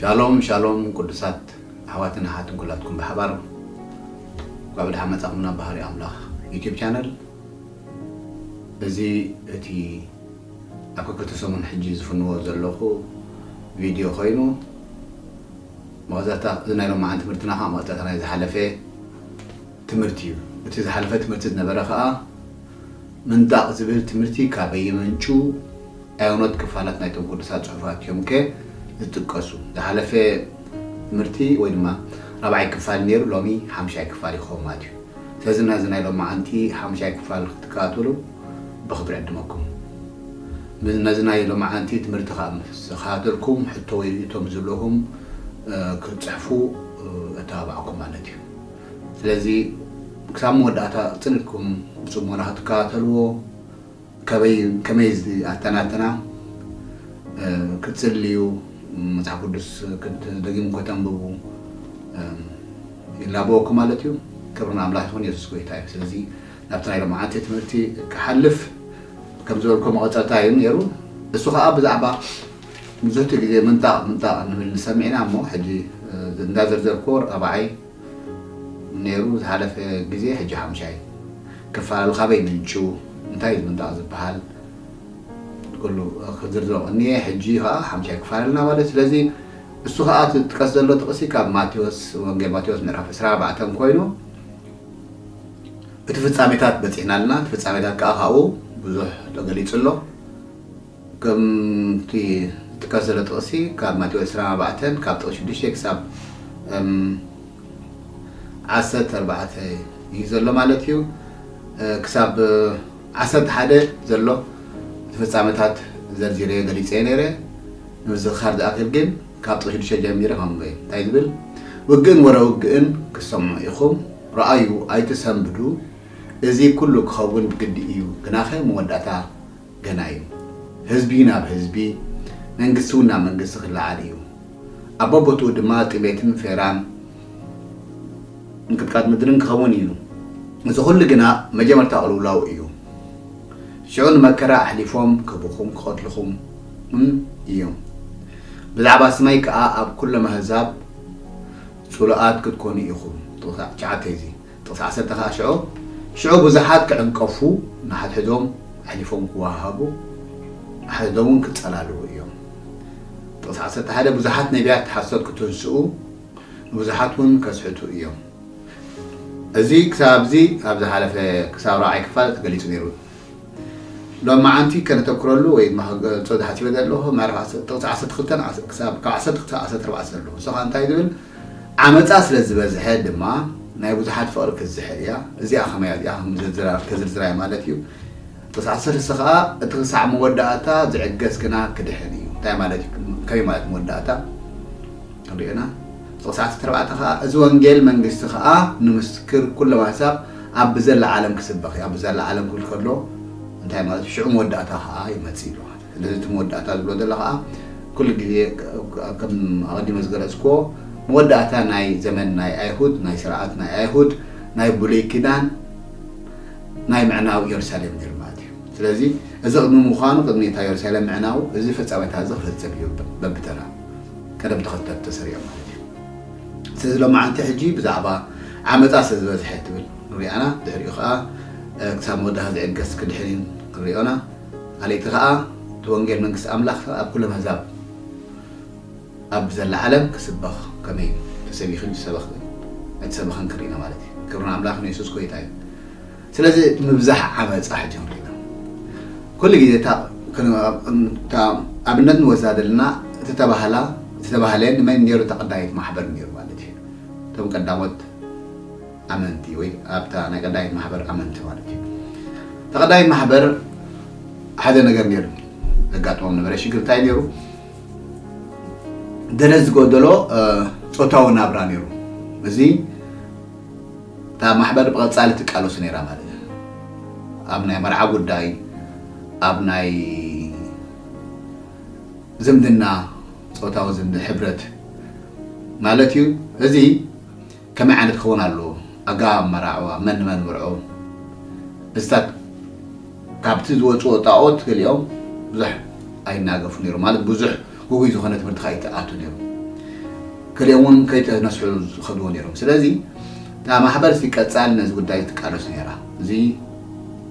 ሻሎም ሻሎም ቁዱሳት ኣሕዋትን ኣሓትን ኩላትኩም ብሓባር እንኳዕ ብድሓን መጻኩም ናብ ባህሪ ኣምላክ ዩቱብ ቻነል እዚ እቲ ኣብ ከከቲ ሰሙን ሕጂ ዝፍንዎ ዘለኩ ቪድዮ ኮይኑ መቀጸልታ እዚ ናይ ሎማዓንቲ ትምህርትና ከኣ መቀጸልታ ናይ ዝሓለፈ ትምህርቲ እዩ እቲ ዝሓለፈ ትምህርቲ ዝነበረ ከኣ ምንጣቕ ዝብል ትምህርቲ ካበይ ይመንጩ? ኣየኖት ክፋላት ናይቶም ቅዱሳት ጽሑፋት እዮምከ ዝጥቀሱ? ዝሓለፈ ትምህርቲ ወይ ድማ ራብዓይ ክፋል ነይሩ ሎሚ ሓምሻይ ክፋል ይኸውን ማለት እዩ። ስለዚ ነዚ ናይ ሎምዓንቲ ሓምሻይ ክፋል ክትከታተሉ ብኽብሪ ዕድመኩም። ነዚ ናይ ሎምዓንቲ ትምህርቲ ከኣ ምስ ተኸታተልኩም ሕቶ ወይ ርእይቶ ምስ ዝህልወኩም ክትጽሕፉ እተባብዓኩም ማለት እዩ። ስለዚ ክሳብ መወዳእታ ቅጽል ኢልኩም ብጽሞና ክትከታተልዎ ከበይ ከመይ ኣተናትና ክትጽልዩ መጽሓፍ ቅዱስ ክትደጊሙ ከተንብቡ ይላበወኩም ማለት እዩ። ክብሪ ንኣምላኽ ይኹን የሱስ ጎይታ እዩ። ስለዚ ናብቲ ናይ ሎምዓንቲ ትምህርቲ ክሓልፍ ከም ዝበልኮ መቐጸልታ እዩ ነይሩ እሱ ከዓ ብዛዕባ ብዙሕቲ ግዜ ምንጣቕ ምንጣቕ ንብል ንሰሚዕና እሞ ሕጂ እንዳዘርዘርክዎ ራብዓይ ነይሩ ዝሓለፈ ግዜ ሕጂ ሓሙሻይ ክፋሉ ካበይ ምንጩ እንታይ እዩ ዝምንጣቕ ዝበሃል ኩሉ ክዝርዝሮ ቀንየ ሕጂ ከኣ ሓሙሻይ ክፋል ኣለና ማለት ስለዚ እሱ ከኣ እቲ ዝጥቀስ ዘሎ ጥቕሲ ካብ ማቴዎስ ወንጌል ማቴዎስ ምዕራፍ 24 ኮይኑ እቲ ፍጻሜታት በጺሕና ኣለና እቲ ፍጻሜታት ከኣ ካብኡ ብዙሕ ተገሊጹ ኣሎ ከምቲ ዝጥቀስ ዘሎ ጥቕሲ ካብ ማቴዎስ ዕስራን ኣርባዕተን ካብ ጥቕሲ ሽዱሽተ ክሳብ ዓሰርተ ኣርባዕተ እዩ ዘሎ ማለት እዩ። ክሳብ ዓሰርተ ሓደ ዘሎ እቲ ፍጻመታት ዘርዚረዮ ገሊጸዮ ነይረ። ንምዝኽኻር ዝኣክል ግን ካብ ጥቕሲ ሽዱሽተ ጀሚረ ከምበ እንታይ ዝብል ውግእን ወረ ውግእን ክትሰምዑ ኢኹም፣ ረኣዩ ኣይትሰንብዱ፣ እዚ ኩሉ ክኸውን ግዲ እዩ፣ ግናኸ መወዳእታ ገና እዩ ህዝቢ ናብ ህዝቢ መንግስቲ እውን ናብ መንግስቲ ክለዓል እዩ ኣብ ቦቦትኡ ድማ ጥሜትን ፌራን ምንቅጥቃጥ ምድርን ክኸውን እዩ እዚ ኩሉ ግና መጀመርታ ቅልውላው እዩ ሽዑ ንመከራ ኣሕሊፎም ክህቡኹም ክቐትልኹም እውን እዮም ብዛዕባ ስመይ ከኣ ኣብ ኩሎም ኣህዛብ ጽሉኣት ክትኮኑ ኢኹም ትሻዓተ እዚ ጥቕሲ ዓሰርተ ከኣ ሽዖ ሽዑ ብዙሓት ክዕንቀፉ ንሓድሕዶም ኣሕሊፎም ክወሃሃቡ ንሓድሕዶምውን ክጸላልዉ እዮም። ጥቕሲ ዓሰርተ ሓደ ብዙሓት ነቢያት ሓሶት ክትንስኡ ንብዙሓትውን ከስሕቱ እዮም። እዚ ክሳብ ኣብዚ ኣብ ዝሓለፈ ክሳብ ራብዓይ ክፋል ተገሊጹ ነይሩ እዩ። ሎምዓንቲ ከነተኩረሉ ወይ ድማ ክገልጾ ዝሓሲበ ዘለኹ ምዕራፍ ጥቕሲ ዓሰርተ ክልተ ካብ ዓሰርተ ክልተ ክሳብ ዓሰርተ ኣርባዕተ ዘሎ ንሱ ከኣ እንታይ ዝብል ዓመጻ ስለ ዝበዝሐ ድማ ናይ ብዙሓት ፍቕሪ ክትዝሕል እያ። እዚኣ ከመይ እያ እዚኣ ከዝርዝራ እየ ማለት እዩ። ቕጽ ዓሰርተ ሰ ኸኣ እቲ ኽሳዕ መወዳእታ ዝዕገስ ግና ክድሕን እዩ። እንታይ ማለት እዩ ከመይ ማለት መወዳእታ ክንሪኦ ኢና። እቲ ቕጽ ዓሰርተ ኣርባዕተ ኸኣ እዚ ወንጌል መንግስቲ ኸኣ ንምስክር ኩሎም ኣሕዛብ ኣብ ብዘላ ዓለም ክስበኽ እዩ። ኣብ ብዘላ ዓለም ክብል ከሎ እንታይ ማለት እዩ ሽዑ መወዳእታ ኸኣ ይመጽእ ኢሉ ማለት እዩ። ነዚ'ቲ መወዳእታ ዝብሎ ዘሎ ከኣ ኩሉ ግዜ ከም ኣቐዲመ ዝገለጽኩዎ መወዳእታ ናይ ዘመን ናይ ኣይሁድ ናይ ስርዓት ናይ ኣይሁድ ናይ ብሉይ ኪዳን ናይ ምዕናው የሩሳሌም ነይሩ ማለት እዩ። ስለዚ እዚ ቅድሚ ምዃኑ ቅድሚ እታ የሩሳሌም ምዕናው እዚ ፍጻሜታት'ዚ ክፍጽም እዩ በብተራ ቀደም ተኸተል ተሰሪዑ ማለት እዩ። ስለዚ ሎማዓንቲ ሕጂ ብዛዕባ ዓመጻ ስለ ዝበዝሐ ትብል ክንሪኣና ድሕሪኡ ከኣ ክሳብ መወዳእታ ዝዕገስ ክድሕን እዩ ክንሪኦና። ካልእቲ ከኣ እቲ ወንጌል መንግስቲ ኣምላኽ ኣብ ኩሎም ኣህዛብ ኣብ ዘላ ዓለም ክስበኽ ከመይ እዩ ተሰቢኹ ዝሰበኽ ኣይተሰበኸን ክሪኢና ማለት እዩ ክብሪ ንኣምላኽ ንየሱስ ጎይታ እዩ ስለዚ እቲ ምብዛሕ ዓመጻ ሕጂ ክንሪኢና ኩሉ ግዜ እታ ኣብነት ንወዛደልና እቲ ተባህላ እቲ ተባህለ ንመን ነይሩ ተቐዳይት ማሕበር ነይሩ ማለት እዩ እቶም ቀዳሞት ኣመንቲ ወይ ኣብታ ናይ ቀዳይት ማሕበር ኣመንቲ ማለት እዩ እታ ቀዳይት ማሕበር ሓደ ነገር ነይሩ ዘጋጥሞም ነበረ ሽግር እንታይ ነይሩ ገለ ዝጎደሎ ፆታዊ ናብራ ነይሩ እዚ እታ ማሕበር ብቐፃሊ ትቃለሱ ነይራ ማለት እዩ ኣብ ናይ መርዓ ጉዳይ ኣብ ናይ ዝምድና ፆታዊ ዝምድ ሕብረት ማለት እዩ እዚ ከመይ ዓይነት ክኸውን ኣለዎ ኣገባብ ኣመራዕባ፣ መን ንመን ምርዑ፣ እዚታት ካብቲ ዝወጽዎ ጣኦት ገሊኦም ብዙሕ ኣይናገፉ ነይሮም ማለት ብዙሕ ጉጉይ ዝኾነ ትምህርቲ ከኣ ኣይተኣቱ ነይሩ ገሊኦም ውን ከይተነስሑ ዝኸድዎ ነይሮም ስለዚ እታ ማሕበር ሲ ቀጻሊ ነዚ ጉዳይ ትቃለሱ ነይራ እዚ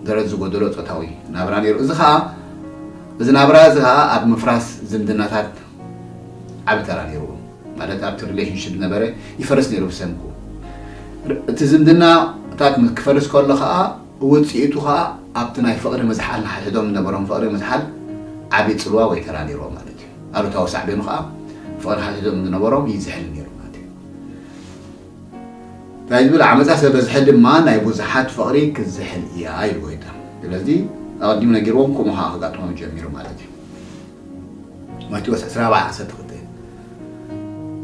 ደረት ዝጎደሎ ጾታዊ ናብራ ነይሩ እዚ ከኣ እዚ ናብራ እዚ ከኣ ኣብ ምፍራስ ዝምድናታት ዓቢ ተራ ነይርዎ ማለት ኣብቲ ሪሌሽንሽፕ ዝነበረ ይፈርስ ነይሩ ብሰንኩ እቲ ዝምድናታት ክፈርስ ከሎ ከዓ ውፅኢቱ ከዓ ኣብቲ ናይ ፍቕሪ ምዝሓል ንሓድሕዶም ዝነበሮም ፍቕሪ ምዝሓል ዓቢ ፅልዋ ወይ ተራ ነይርዎ ማለት እዩ ኣሉታዊ ሳዕቤኑ ከዓ ፍቕሪ ሓድሕዶም ዝነበሮም ይዝሕል ነይሩ ማለት እዩ እንታይ ዝብል ዓመፃ ስለበዝሐ ድማ ናይ ብዙሓት ፍቕሪ ክዝሕል እያ ኢልዎ ይታ ስለዚ ኣቐዲሙ ነጊርዎም ከምኡ ከዓ ከጋጥሞም ጀሚሩ ማለት እዩ ማቴዎስ ዕስራ ኣርባዓ ዓሰርተ ክልተ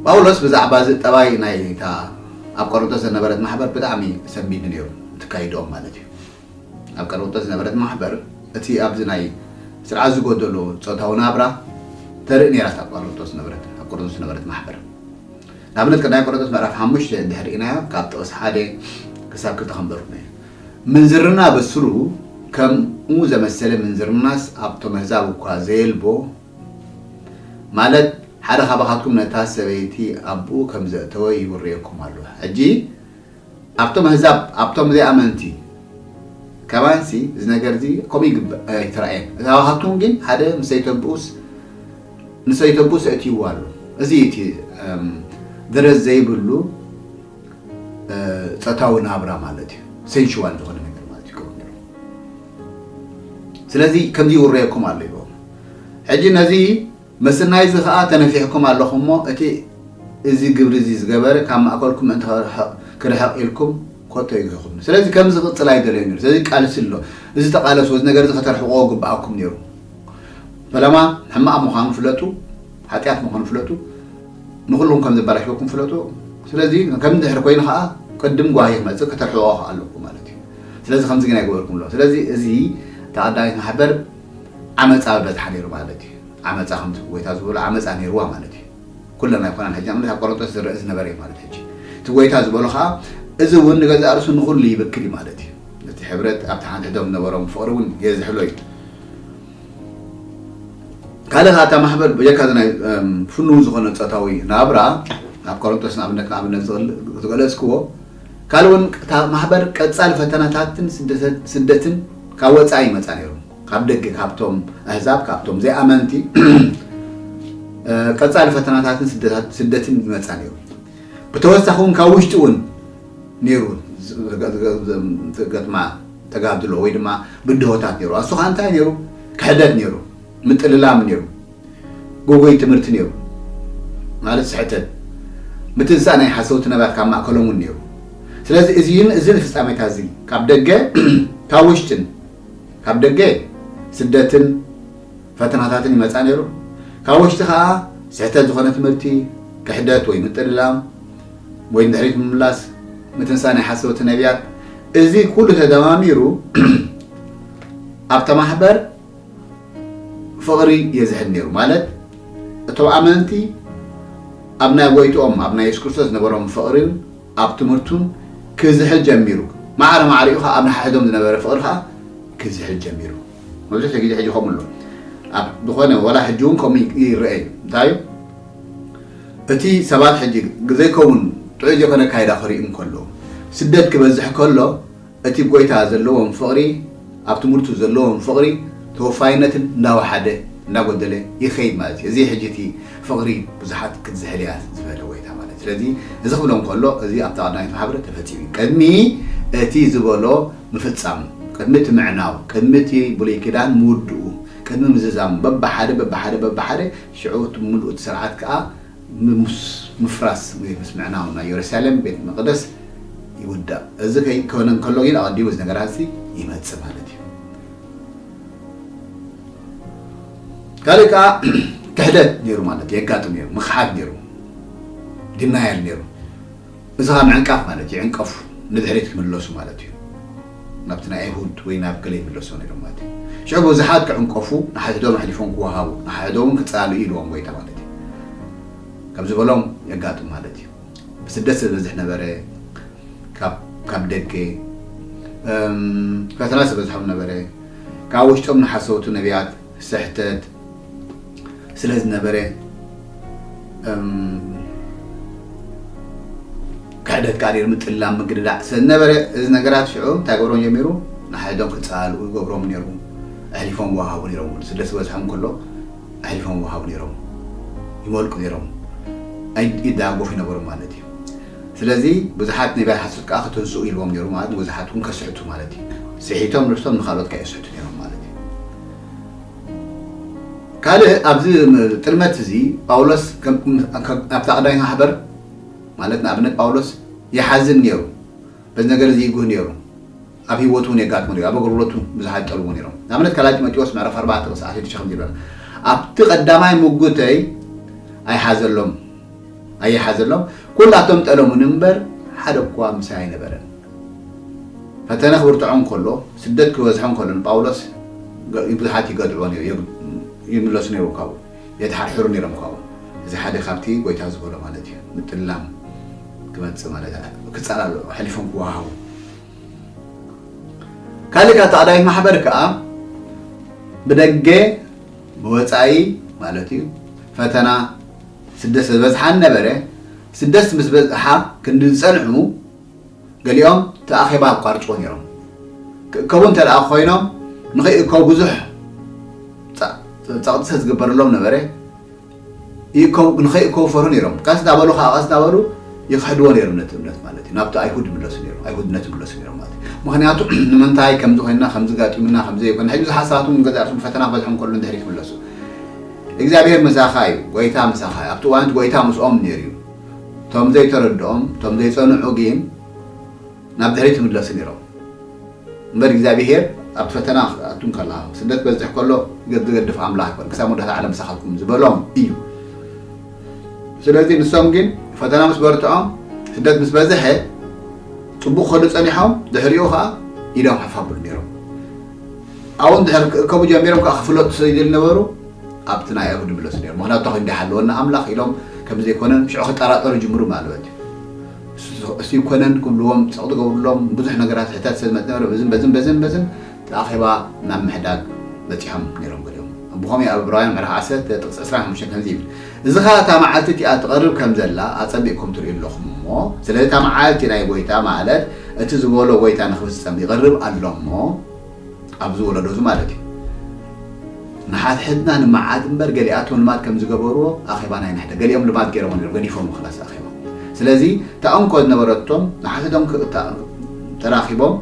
ጳውሎስ ብዛዕባ እዚ ጠባይ ናይ እታ ኣብ ቆሮንቶስ ዘነበረት ማሕበር ብጣዕሚ ሰንቢዱ ነይሩ እትካይድኦም ማለት እዩ ኣብ ቀሮንቶስ ዝነበረት ማሕበር እቲ ኣብዚ ናይ ስርዓት ዝጎደሎ ፆታዊ ናብራ ተርኢ ነይራ እታ ቆሮንቶስ ዝነበረት ኣብ ቆሮንቶስ ዝነበረት ማሕበር ንኣብነት ቀዳማይ ቆሮንቶስ ምዕራፍ ሓሙሽተ እንድሕር ርኢናዮ ካብ ጥቕሲ ሓደ ክሳብ ክልተ ከንበርኩ ነየ ምንዝርና ብስሩ ከምኡ ዘመሰለ ምንዝርናስ ኣብቶም ኣህዛብ እኳ ዘየልቦ፣ ማለት ሓደ ኻባኻትኩም ነታ ሰበይቲ ኣብኡ ከም ዘእተወ ይውርየኩም ኣሎ። ሕጂ ኣብቶም ኣህዛብ፣ ኣብቶም ዘይኣመንቲ ከማንሲ እዚ ነገር እዚ ከምኡ ይግበ ኣይተራእየን። ካባኻትኩም ግን ሓደ ምስ ሰይተብኡስ ንሰይተብኡስ ኣእትይዎ ኣሎ። እዚ እዩ እቲ ደረት ዘይብሉ፣ ጸታዊ ናብራ ማለት እዩ ሴንሽዋል ዝኾነ ነገር ማለት እዩ ከምኡ ነይሩ ስለዚ ከምዚ ይውረየኩም ኣሎ ይብሎም ሕጂ ነዚ መስናይ እዚ ከዓ ተነፊሕኩም ኣለኹም እሞ እቲ እዚ ግብሪ እዚ ዝገበረ ካብ ማእከልኩም ምእንቲ ክርሕቕ ኢልኩም ኮቶ ይግህኹም ስለዚ ከም ዝቕጽል ኣይደለዩ ነሩ ስለዚ ቃልሲ ኣሎ እዚ ተቓለሱ እዚ ነገር እዚ ከተርሕቕዎ ግብኣኩም ነሩ ፈለማ ሕማቕ ምዃኑ ፍለጡ ሓጢኣት ምዃኑ ፍለጡ ንኹሉኹም ከም ዘበላሽወኩም ፍለጡ። ስለዚ ከም ድሕሪ ኮይኑ ከኣ ቅድም ጓሂ ክመጽእ ከተርሕቕኦ ከኣ ኣለኩም ማለት እዩ። ስለዚ ከምዚ ግን ኣይገበርኩምሉን። ስለዚ እዚ ተኣዳኒት ማሕበር ዓመጻ ኣብ በዝሓ ነይሩ ማለት እዩ። ዓመጻ ከምቲ ጎይታ ዝበሎ ዓመጻ ነይርዋ ማለት እዩ። ኩለን ኣይኮናን ሕጂ ንኣብነት ኣብ ቆረንጦስ ዝረእ ዝነበረ እዩ ማለት ሕጂ። እቲ ጎይታ ዝበሎ ከኣ እዚ እውን ንገዛእ ርእሱ ንኹሉ ይብክል እዩ ማለት እዩ። ነቲ ሕብረት ኣብቲ ሓንሕዶም ዝነበሮም ፍቕሪ እውን የዝሕሎ እዩ። ካልእ ከዓ እታ ማሕበር በጀካ እዚ ናይ ፍኑው ዝኾነ ፆታዊ ናብራ ኣብ ኮረንቶስ ንኣብነት ንኣብነት ዝገለፅክዎ ካልእ እውን እታ ማሕበር ቀፃሊ ፈተናታትን ስደትን ካብ ወፃኢ ይመፃ ነይሮም ካብ ደገ ካብቶም ኣህዛብ ካብቶም ዘይኣመንቲ ቀፃሊ ፈተናታትን ስደትን ይመፃ ነይሩ ብተወሳኺ እውን ካብ ውሽጢ እውን ነይሩ ዝገጥማ ተጋድሎ ወይ ድማ ብድሆታት ነይሩ። ኣሱ ከኣ እንታይ ነይሩ ክሕደት ነይሩ፣ ምጥልላም ነይሩ፣ ጉጉይ ትምህርቲ ነይሩ ማለት ስሕተት ምትንሳእ ናይ ሓሰውቲ ነባት ካብ ማእከሎም እውን ነይሩ። ስለዚ እዚን እዚን ፍጻሜታት እዚ ካብ ደገ ካብ ውሽጥን ካብ ደገ ስደትን ፈተናታትን ይመጻ ነይሩ። ካብ ወሽጢ ከኣ ስሕተት ዝኾነ ትምህርቲ፣ ክሕደት ወይ ምጥልላም ወይ ንድሕሪት ምምላስ፣ ምትንሳእ ናይ ሓሰውቲ ነብያት፣ እዚ ኩሉ ተደማሚሩ ኣብታ ማሕበር ፍቕሪ የዝሕል ነይሩ። ማለት እቶም ኣመንቲ ኣብ ናይ ጎይትኦም ኣብ ናይ የሱስ ክርስቶስ ዝነበሮም ፍቕሪን ኣብ ትምህርቱን ክዝሕል ጀሚሩ። ማዕረ ማዕሪኡ ከኣ ኣብ ንሓሕዶም ዝነበረ ፍቕሪ ከኣ ክዝሕል ጀሚሩ። መብዛሕትኡ ግዜ ሕጂ ከምኡ ኣሎ ኣብ ዝኾነ ወላ ሕጂ እውን ከምኡ ይረአ እዩ እንታይ እዩ እቲ ሰባት ሕጂ ዘይከውን ጥዑይ ዘይኮነ ኣካይዳ ክርኢ እንከሎ ስደት ክበዝሕ ከሎ እቲ ጎይታ ዘለዎም ፍቕሪ ኣብ ትምህርቱ ዘለዎም ፍቕሪ ተወፋይነትን እንዳወሓደ እንዳጎደለ ይኸይድ ማለት እዩ እዚ ሕጂ እቲ ፍቕሪ ብዙሓት ክትዝሕል እያ ዝበለ ጎይታ ማለት ስለዚ እዚ ክብሎ እንከሎ እዚ ኣብታ ቀዳማዊት ማሕበር ተፈጺሙ እዩ ቅድሚ እቲ ዝበሎ ምፍጻም፣ ቅድሚ እቲ ምዕናው፣ ቅድሚ እቲ ብሉይ ኪዳን ምውድኡ፣ ቅድሚ ምዝዛም፣ በብሓደ በብሓደ በብሓደ፣ ሽዑ እቲ ምሉእ እቲ ስርዓት ከኣ ምስ ምፍራስ ወይ ምስ ምዕናው ናይ ዮርሳሌም ቤት መቕደስ ይውዳእ። እዚ ከይኮነ እንከሎ ግን ኣቐዲሙ እዚ ነገራት እዚ ይመጽእ ማለት እዩ። ካልእ ከኣ ክሕደት ነይሩ ማለት እዩ፣ የጋጥም ነይሩ፣ ምኽሓድ ነይሩ፣ ዲናያል ነይሩ። እዚ ኸኣ ምዕንቃፍ ማለት ይዕንቀፉ ንድሕሪት ክምለሱ ማለት እዩ ናብቲ ናይ ኣይሁድ ወይ ናብ ገለ ይምለሱ ነይሮም ማለት እዩ ሽዑ ብዙሓት ክዕንቀፉ ንሓድሕዶም ኣሕሊፎም ክወሃቡ ንሓድሕዶም ክጻልኡ ኢልዎም ጎይታ ማለት እዩ ከምዚ በሎም የጋጥም ማለት እዩ ብስደት ስለ ዝበዝሕ ነበረ ካብ ካብ ደገ ፈተና ስለ ዝበዝሖም ነበረ ካብ ውሽጦም ንሓሰውቲ ነቢያት ስሕተት ስለ ዝነበረ እም ክሕደት ቃሪር ምጥላም ምግድዳዕ ስለ ዝነበረ እዚ ነገራት ሽዑ እንታይ ገብሮም ጀሚሩ ንሓድሕዶም ክጸላልኡ ይገብሮም ነይሩ ኣሕሊፎም ይወሃቡ ነይሮም ስደት ዝበዝሖም ከሎ ኣሕሊፎም ይወሃቡ ነይሮም ይመልቁ ነይሮም ይዳጎፉ ይነበሩ ማለት እዩ ስለዚ ብዙሓት ነቢያት ሓሶት ከኣ ክትንስኡ ኢልዎም ነይሩ ማለት ንብዙሓት ውን ከስሕቱ ማለት እዩ ስሒቶም ርሕቶም ንኻልኦት ከኣ የስሕቱ ነይሮም ማለት እዩ ካልእ ኣብዚ ጥልመት እዚ ጳውሎስ ኣብታ ቀዳማይ ማሕበር ማለት ንኣብነት ጳውሎስ ይሓዝን ነይሩ በዚ ነገር እዚ ይጉህ ነይሩ ኣብ ህይወቱ እውን የጋጥሙ ነይሩ፣ ኣብ ኣገልግሎቱ ብዙሓት ይጠልምዎ ነይሮም። ንኣብነት ካልኣይ ጢሞቴዎስ ምዕራፍ ኣርባዕተ ቁጽሪ ዓሰርተ ሽዱሽተ ከምዚ ይብል፣ ኣብቲ ቀዳማይ ምጉተይ ኣይሓዘሎም ኣይሓዘሎም፣ ኩላቶም ጠለሙኒ እምበር ሓደ እኳ ምሳይ ኣይነበረን። ፈተነ ክብርትዖ እንከሎ፣ ስደት ክበዝሖ እንከሎ ንጳውሎስ ብዙሓት ይገድዕዎ ነይሩ፣ ይምለሱ ነይሩ ካብኡ፣ የተሓርሕሩ ነይሮም ካብኡ። እዚ ሓደ ካብቲ ጎይታ ዝበሎ ማለት እዩ፣ ምጥላም ክመጽእ ማለት ክጻላሉ ኣሕሊፎም ክወሃሃቡ። ካልእ ካብ ተኣዳዊት ማሕበር ከዓ ብደገ ብወፃኢ ማለት እዩ ፈተና ስደት ዝበዝሓን ነበረ ስደት ምስ በዝሓ ክንዲ ዝፀንዑ ገሊኦም እቲ ኣኼባ ኣቋርጭዎ ነይሮም ክእከቡ እንተ ደኣ ኮይኖም ንኸይእከቡ ብዙሕ ፀቕጢ ዝግበረሎም ነበረ ይእከቡ ንኸይእከቡ ይፈርሁ ነይሮም። ቀስ እናበሉ ኸኣ ቀስ እናበሉ ይኽሕድዎ ነይሮም ነቲ እምነት ማለት እዩ። ናብቲ ኣይሁድ ይምለሱ ነይሮም፣ ኣይሁድነት ይምለሱ ነይሮም ማለት እዩ። ምኽንያቱ ንምንታይ ከምዚ ኮይንና፣ ከምዚ ኣጋጢሙና፣ ከምዚ ዘይኮና፣ ሕጂ ብዙሓት ሰባት እውን ገዛእ ርእሶም ፈተና ክበጽሖም ከሎ ንድሕሪት ይምለሱ። እግዚኣብሄር ምሳኻ እዩ፣ ጐይታ ምሳኻ እዩ። ኣብቲ እዋን እቲ ጐይታ ምስኦም ነይሩ እዩ። እቶም ዘይተረድኦም፣ እቶም ዘይጸንዑ ግን፣ ናብ ድሕሪት ይምለሱ ነይሮም እምበር እግዚኣብሄር ኣብቲ ፈተና ክትኣቱ እንከለኻ ስደት ክበዝሕ ከሎ ገብ ዝገድፍ ኣምላኽ ኣይኮነን ክሳብ መወዳእታ ዓለም ምሳኻትኩም ዝበሎም እዩ ስለዚ ንሶም ግን ፈተና ምስ በርትዖም ስደት ምስ በዝሐ ፅቡቕ ክኸዱ ፀኒሖም ድሕሪኡ ከዓ ኢዶም ሓፍ ኣብሉ ነይሮም ኣብኡ እንድሕር ክእከቡ ጀሚሮም ከዓ ክፍለጡ ስለ ዘይነበሩ ኣብቲ ናይ ኣይሁድ ይምለሱ ነይሮም ምክንያቱ ተኸይኑ እንዲሓለወና ኣምላኽ ኢሎም ከም ዘይኮነን ሽዑ ክጠራጠሩ ጅምሩ ማለት እዩ እሱይ ኮነን ክብልዎም ሰቕ ዝገብሩሎም ብዙሕ ነገራት ሕተት ስለ ዝመፅነበረ በዝን በዝን በዝን በዝን ተኣኼባ ናብ ምሕዳግ በፂሖም ነይሮም ገሊኦም ኣቦኾም እዩ ኣብ ዕብራውያን ምዕራፍ ዓሰርተ ጥቕሲ ዕስራን ሓሙሽተን ከምዙይ ይብል እዚ ኸዓ እታ መዓልቲ እቲኣ ትቐርብ ከም ዘላ ኣፀቢቕኩም ትርእዩ ኣለኹም እሞ ስለዚ እታ መዓልቲ ናይ ጎይታ ማለት እቲ ዝበሎ ጎይታ ንኽፍፀም ይቐርብ ኣሎ እሞ ኣብዚ ወለዶ እዚ ማለት እዩ ንሓድሕድና ንመዓት እምበር ገሊኣቶም ልማድ ከም ዝገበርዎ ኣኼባ ናይ ንሕደ ገሊኦም ልማድ ገይሮሞ ነይሮም ገዲፎሞ ክላስ ኣኼባ ስለዚ እታ እንኮ ዝነበረቶም ንሓድሕዶም ተራኺቦም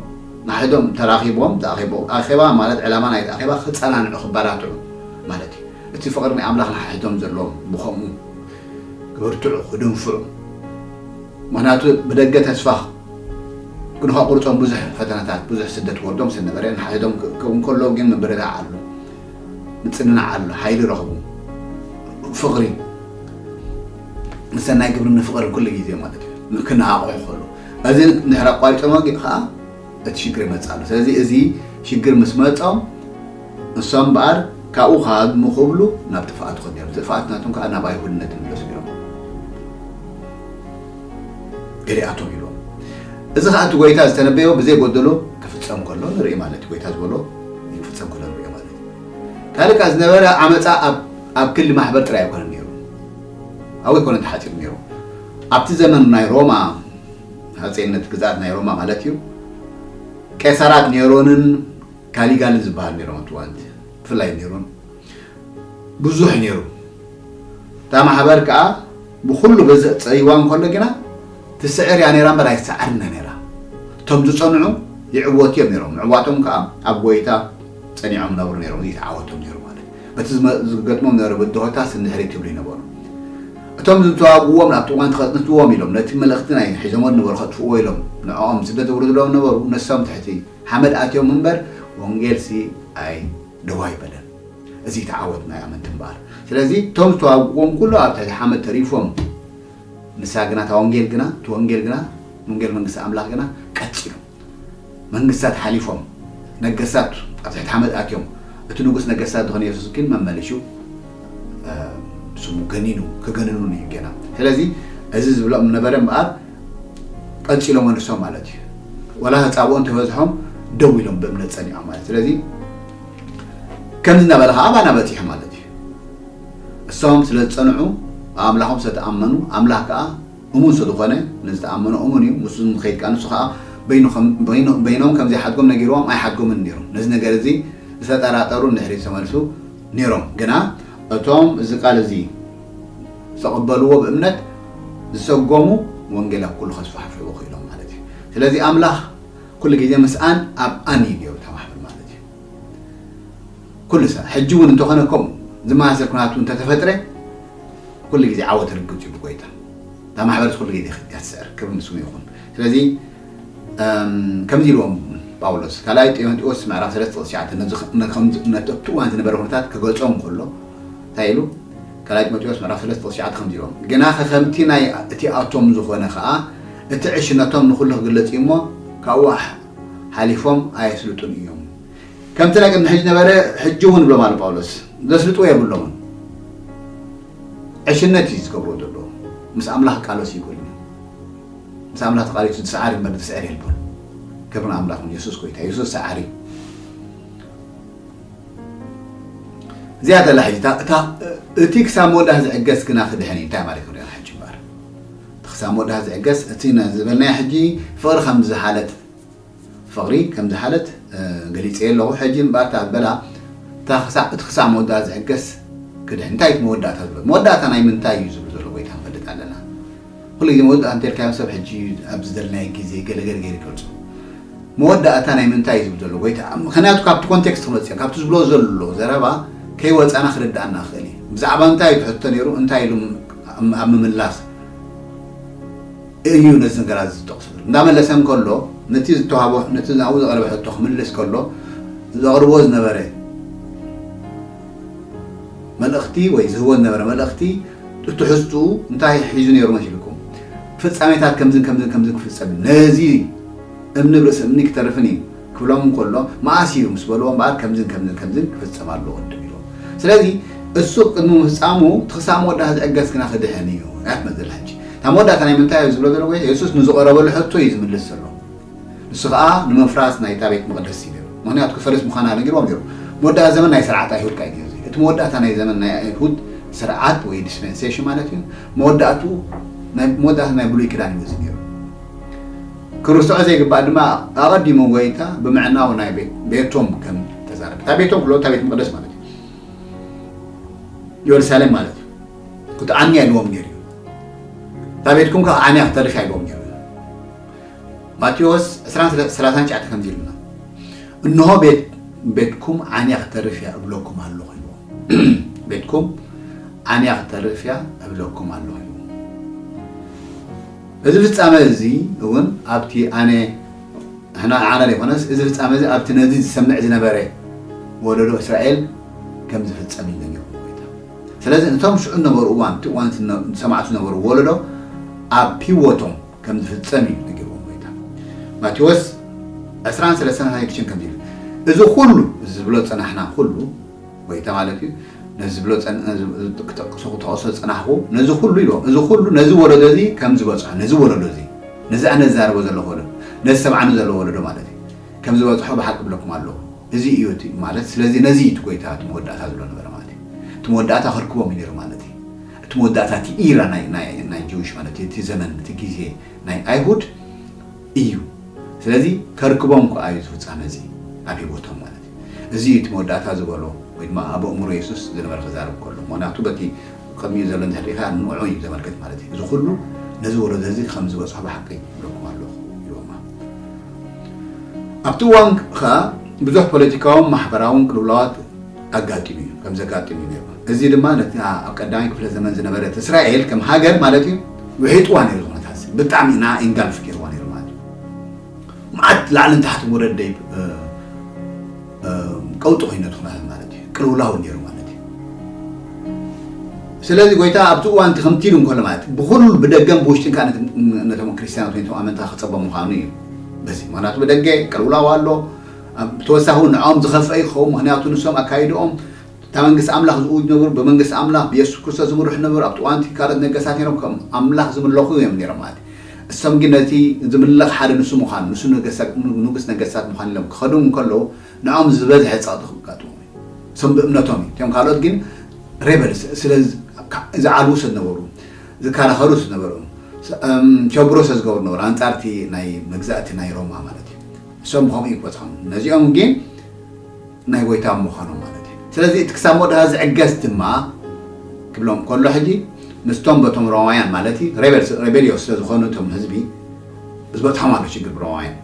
ንሓድሕዶም ተራኺቦም ዝኣኼቦ ኣኼባ ማለት ዕላማ ናይቲ ኣኼባ ክጸናንዑ ክበራትዑ ማለት እዩ እቲ ፍቕሪ ናይ ኣምላኽ ንሓድሕዶም ዘለዎም ብኸምኡ ክብርትዑ ክድንፍዑ ምክንያቱ ብደገ ተስፋ ግን ከቁርጾም ብዙሕ ፈተነታት ብዙሕ ስደት ወርዶም ሰነበረ ንሓድሕዶም ክእከቡ እንከለዉ ግን ምብርዳዕ ኣሎ ምጽንናዕ ኣሎ ሓይሊ ረኽቡ ፍቕሪ ንሰናይ ግብርን ንፍቕርን ኩሉ ግዜ ማለት እዩ ክነቓቕሑ ከሉ እዚ ድሕሪ ኣቋሪጾም ከዓ እቲ ሽግር ይመጽእ ኣሎ ስለዚ እዚ ሽግር ምስ መጾም እሶም እምበኣር ካብኡ ካድሙ ክብሉ ናብ ጥፍኣት ኾዲኖም ጥፍኣት ናቶም ከዓ ናብ ኣይሁድነት ይምለሱ ነይሮም ገሊኣቶም ይብሎም እዚ ኸዓ እቲ ጎይታ ዝተነበዮ ብዘይ ጎደሎ ክፍጸም ከሎ ንርኢ ማለት እዩ ጎይታ ዝበሎ ክፍጸም ከሎ ንሪኦ ማለት እዩ ካልእ ከኣ ዝነበረ ዓመፃ ኣብ ክሊ ማሕበር ጥራይ ኣይኮነን ነይሩ ኣብኡ ኣይኮነን ተሓፂሩ ነይሩ ኣብቲ ዘመን ናይ ሮማ ሃፀይነት ግዝኣት ናይ ሮማ ማለት እዩ ቄሳራት ኔሮንን ካሊጋልን ዝበሃል ነይሮም ኣብቲ እዋንቲ ብፍላይ ኔሮን ብዙሕ ነይሩ። እታ ማሕበር ከኣ ብኹሉ ገዘእ ጸይዋ እንከሎ ግና ትስዕር እያ ነይራ እምበር ኣይትሰዓርን እያ ነይራ። እቶም ዝጸንዑ ይዕወቱ እዮም ነይሮም። ምዕዋቶም ከኣ ኣብ ጐይታ ጸኒዖም ይነብሩ ነይሮም። እዚ እዩ እቲ ዓወቶም ነይሩ ማለት። በቲ ዝገጥሞም ዝነበረ ብድሆታትስ ንድሕሪት ይብሉ ኣይነበሩን። እቶም ዝተዋግእዎም ናብቲ እዋን ተኸጽንትዎም ኢሎም ነቲ መልእኽቲ ናይ ሒዞሞ ዝነበሩ ከጥፍእዎ ኢሎም ንዕኦም ስደት ዘውርድሎም ዝነበሩ ንሶም ትሕቲ ሓመድ ኣትዮም እምበር ወንጌልሲ ኣይ ደው ኣይበለን እዚ እቲ ዓወት ናይ ኣመንቲ እምበኣር ስለዚ እቶም ዝተዋግእዎም ኩሉ ኣብ ትሕቲ ሓመድ ተሪፎም ንሳ ግና እታ ወንጌል ግና እቲ ወንጌል ግና ወንጌል መንግስቲ ኣምላኽ ግና ቀጺሉ መንግስታት ሓሊፎም ነገስታት ኣብ ትሕቲ ሓመድ ኣትዮም እቲ ንጉስ ነገስታት ዝኾነ የሱስ ግን መመሊሹ ስሙ ገኒኑ ክገንኑን እዩ ገና ስለዚ እዚ ዝብሎም ነበረ እምበኣር ቀንጺሎ መልሶም ማለት እዩ ወላ ተጻብኦ እንተበዝሖም ደው ኢሎም ብእምነት ጸኒዖም ማለት ስለዚ ከምዚ እናበለ ከዓ ኣባና በፂሑ ማለት እዩ እሶም ስለ ዝፀንዑ ኣምላኾም ስለተኣመኑ ኣምላኽ ከዓ እሙን ስለዝኾነ ንዝተኣመኖ እሙን እዩ ምስ ንኸይድ ከዓ ንሱ ከዓ በይኖም ከም ዘይሓድጎም ነጊርዎም ኣይሓድጎምን ነይሩ ነዚ ነገር እዚ ዝተጠራጠሩ ንድሕሪት ተመልሱ ነይሮም ግና እቶም እዚ ቃል እዚ ዝተቐበልዎ ብእምነት ዝሰጎሙ ወንጌል ኣብ ኩሉ ከስፋሕፍሕዎ ክኢሎም ማለት እዩ። ስለዚ ኣምላኽ ኩሉ ግዜ ምስኣን ኣብ ኣን እዩ ገይሩ ተማሕብር ማለት እዩ። ኩሉ ሰ ሕጂ እውን እንተኾነ ከምኡ ዝመሳሰል ኩናት እውን ተተፈጥረ ኩሉ ግዜ ዓወት ርግጽ እዩ ብጎይታ እታ ማሕበርስ ኩሉ ግዜ እያ ትስዕር ክብር ንስሙ ይኹን። ስለዚ ከምዚ ኢልዎም ጳውሎስ ካልኣይ ጢሞቴዎስ ምዕራፍ 3 ጥቕሲ 9 ነዚ ከምዚ እነተቱ እዋን ዝነበረ ኩነታት ክገልጾም ከሎ እንታይ ኢሉ ካልኣይ ጢሞቴዎስ ምዕራፍ ሰለስተ ቁጽሪ ትሽዓተ ከምዚ ኢሎም፣ ግናኸ ከምቲ ናይ እቲ ኣቶም ዝኾነ ኸኣ እቲ ዕሽነቶም ንኹሉ ክግለጽ እዩ እሞ፣ ካብኡ ሓሓሊፎም ኣየስልጡን እዮም። ከምቲ ናይ ቅድሚ ሕጂ ነበረ ሕጂውን ይብሎም ኣሎ ጳውሎስ፣ ዘስልጥዎ የብሎምን። ዕሽነት እዩ ዝገብርዎ ዘለዉ። ምስ ኣምላኽ ክቃለሱ ኣይክእሉን እዮም። ምስ ኣምላኽ ተቃሊሱ ዝሰዓር እምበር ዝስዕር የልቦን። ክብሪ ንኣምላኽ ይኹን፣ የሱስ ጎይታ እዩ፣ የሱስ ሰዓሪ እዩ። እዚኣ ዘላ ሕጂ እቲ ክሳብ መወዳእ ዝዕገስ ግና ክድሕን እዩ እንታይ ማለት ክንሪኦ ሕጂ እምበር እቲ ክሳብ መወዳእ ዝዕገስ እቲ ዝበልናዮ ሕጂ ፍቕሪ ከም ዝሓለት ፍቕሪ ከም ዝሓለት ገሊፀ ኣለኹ ሕጂ እምበር እታ ዝበላ እቲ ክሳብ መወዳእ ዝዕገስ ክድሕን እንታይ እቲ መወዳእታ ዝብሎ መወዳእታ ናይ ምንታይ እዩ ዝብሉ ዘሎ ጎይታ ንፈልጥ ኣለና ኩሉ ግዜ መወዳእታ እንተልካዮ ሰብ ሕጂ ኣብ ዝደልናዮ ግዜ ገለ ገለ ገይሩ ይገልጾ መወዳእታ ናይ ምንታይ ዝብል ዘሎ ጎይታ ምክንያቱ ካብቲ ኮንቴክስት ክንወጽእ ካብቲ ዝብሎ ዘሎ ዘረባ ከይወጻና ክርድኣና ክእል እዩ ብዛዕባ እንታይ እዩ ትሕቶ ነይሩ እንታይ ኢሉ ኣብ ምምላስ እዩ ነዚ ነገራት ዝጠቕሱ እንዳመለሰ እንከሎ ነቲ ዝተዋህቦ ነቲ ኣብኡ ዝቐረበ ሕቶ ክምልስ ከሎ ዘቕርቦ ዝነበረ መልእኽቲ ወይ ዝህቦ ዝነበረ መልእኽቲ ትሕዝትኡ እንታይ ሒዙ ነይሩ መሲልኩም? ፍጻሜታት ከምዝን ከምዝን ከምዝን ክፍጸም እዩ፣ ነዚ እምኒ ብ ርእሲ እምኒ ክተርፍን እዩ ክብሎም እንከሎ መኣስ እዩ ምስ በልዎ እምበኣር ከምዝን ከምዝን ከምዝን ክፍጸም ኣለዎ ቅድም ኢሉ። ስለዚ እሱ ቅድሚ ምፍጻሙ እቲ ክሳብ መወዳእታ ዝዕገስ ግና ክድሕን እዩ እያ ትመጽእ ዘላ ሕጂ። እታ መወዳእታ ናይ ምንታይ እዩ ዝብሎ ዘሎ ጎይታ የሱስ ንዝቐረበሉ ሕቶ እዩ ዝምልስ ዘሎ። ንሱ ኸኣ ንምፍራስ ናይታ ቤት መቕደስ ይብል፣ ምኽንያቱ ክፈርስ ምዃና ነጊርዎም ነይሩ። መወዳእታ ዘመን ናይ ስርዓት ኣይሁድ ከኣ እዩ እዚ። እቲ መወዳእታ ናይ ዘመን ናይ ኣይሁድ ስርዓት ወይ ዲስፐንሴሽን ማለት እዩ፣ መወዳእትኡ ናይ መወዳእታ ናይ ብሉይ ኪዳን እዩ እዚ ነይሩ። ክርሰዖ ዘይግባእ ድማ ኣቐዲሙ ጎይታ ብምዕናው ናይ ቤት ቤቶም ከም ተዛረበ። እታ ቤቶም ክብሎ እታ ቤት መቕደስ ማለት እዩ። የሩሳሌም ማለት እዩ። ክትዓንያ ኢልዎም ነይሩ እዩ። እታ ቤትኩም ከኣ ዓንያ ክተርፍ እያ ኢልዎም ነይሩ እዩ። ማቴዎስ ዕስራን ሰላሳን ትሽዓተ ከምዚ ይብለና፣ እንሆ ቤትኩም ዓንያ ኽተርፍ እያ እብለኩም ኣሎኹ ኢልዎም። ቤትኩም ዓንያ ኽተርፍ እያ እብለኩም ኣሎኹ ኢልዎም። እዚ ፍጻመ እዚ እውን ኣብቲ ኣነ ንሕና ንዓና ዘይኮነስ እዚ ፍጻመ እዚ ኣብቲ ነዚ ዝሰምዕ ዝነበረ ወለዶ እስራኤል ከም ዝፍጸም እዩ ነጊርዎ ጎይታ ስለዚ እቶም ሽዑ ዝነበሩ እዋን እቲ እዋን ዝሰማዕቱ ዝነበሩ ወለዶ ኣብ ህይወቶም ከም ዝፍጸም እዩ ነጊርዎም ጎይታ። ማቴዎስ ዕስራን ሰለስተን ናይ ድሽን ከምዚ ይብል እዚ ኩሉ እዚ ዝብሎ ጸናሕና ኩሉ ጎይታ ማለት እዩ ነዚ ዝብሎ ክጠቅሶ ክጠቅሶ ጸናሕኩ ነዚ ኩሉ ይብሎም እዚ ኩሉ ነዚ ወለዶ እዚ ከም ዝበጽሖ ነዚ ወለዶ እዚ ነዚ ኣነ ዝዛረቦ ዘለኹ ወለዶ ነዚ ሰብዓኑ ዘለዎ ወለዶ ማለት እዩ ከም ዝበጽሖ ብሓቂ ብለኩም ኣለኹ እዚ እዩ እቲ ማለት ስለዚ ነዚ እቲ ጎይታ እቲ መወዳእታ ዝብሎ ነበረ ማለት እዩ እቲ መወዳእታ ከርክቦም እዩ ነይሩ ማለት እዩ እቲ መወዳእታ እቲ ኢራ ናይ ናይ ናይ ጅዊሽ ማለት እዩ እቲ ዘመን እቲ ግዜ ናይ ኣይሁድ እዩ ስለዚ ከርክቦም ከኣ እዩ ዝፍጻመ እዚ ኣብ ሂወቶም ማለት እዩ እዚ እዩ እቲ መወዳእታ ዝበሎ ወይ ድማ ኣብ ኣእምሮ የሱስ ዝነበረ ክዛረብ ከሎ ምክንያቱ በቲ ቅድሚኡ ዘሎ እንድሕር ሪኢኻ ንዑዑ እዩ ዘመልክት ማለት እዩ እዚ ኩሉ ነዚ ወለዶ እዚ ከም ዝበጽሖ ብሓቂ ይብለኩም ኣለኹ ይብሎማ ኣብቲ እዋን ከኣ ብዙሕ ፖለቲካውን ማሕበራውን ቅልውላዋት ኣጋጢሙ እዩ፣ ከም ዘጋጥም እዩ ነይሩ። እዚ ድማ ነታ ኣብ ቀዳማይ ክፍለ ዘመን ዝነበረት እስራኤል ከም ሃገር ማለት እዩ ውሒጥዋ ነይሩ፣ እዚ ኩነታት እዚ ብጣዕሚ ንኣ ኢንጋልፍ ገይርዋ ነይሩ ማለት እዩ። መዓት ላዕልን ታሕትን ወረድ ደይብ እ፣ እ፣ ቀውጢ ኮይኑ ነቲ ኩነታት ማለት እዩ፣ ቅልውላው ነይሩ ማለት እዩ። ስለዚ ጎይታ ኣብቲ እዋን እቲ ከምቲ ኢሉ እንከሎ ማለት እዩ፣ ብኹሉ ብደገን ብውሽጥን ከኣ ነቲ ነቶም ክርስትያናት ወይ ነቶም ኣመንታ ክጸበ ምዃኑ እዩ። በዚ ምኽንያቱ ብደገ ቅልውላው ኣሎ፣ ብተወሳኺ እውን ንዕኦም ዝኸፍአ እዩ ክኸውን፣ ምኽንያቱ ንሶም ኣካይድኦም እታ መንግስቲ ኣምላኽ ዝእውጁ ነበሩ፣ ብመንግስቲ ኣምላኽ ብየሱስ ክርስቶስ ዝምርሑ ነበሩ፣ ኣብቲ እዋን እቲ ካልኦት ነገስታት ነይሮም ከም ኣምላኽ ዝምለኹ እዮም ነይሮም ማለት እዩ። እሶም ግን ነቲ ዝምለኽ ሓደ ንሱ ምዃኑ ንሱ ንጉስ ነገስታት ምዃኑ ኢሎም ክኸዱ እንከለዉ ንዕኦም ዝበዝሐ ጸቕጢ ከጋጥሞም እዩ። እሶም ብእምነቶም እዩ፣ እቶም ካልኦት ግን ሬበልስ ስለ ዝዓልዉ ስለ ዝነበሩ ዝከራኸሩ ስለ ዝነበሩ እም ቸብሮ ስለ ዝገብሩ ነበሩ ኣንጻር እቲ ናይ መግዛእቲ ናይ ሮማ ማለት እዩ። እሶም ኸምኡ ይቈጽሮም፣ ነዚኦም ግን ናይ ጐይታ ምዃኖም ማለት እዩ። ስለዚ እቲ ክሳብ መወዳእታ ዚዕገስ ድማ ኪብሎም ከሎ ሕጂ ምስቶም በቶም ሮማውያን ማለት እዩ ሬበልስ ሬበልዮስ ስለ ዝዀኑ እቶም ህዝቢ ዝበጽሖም ኣሎ ሽግር ብሮማውያን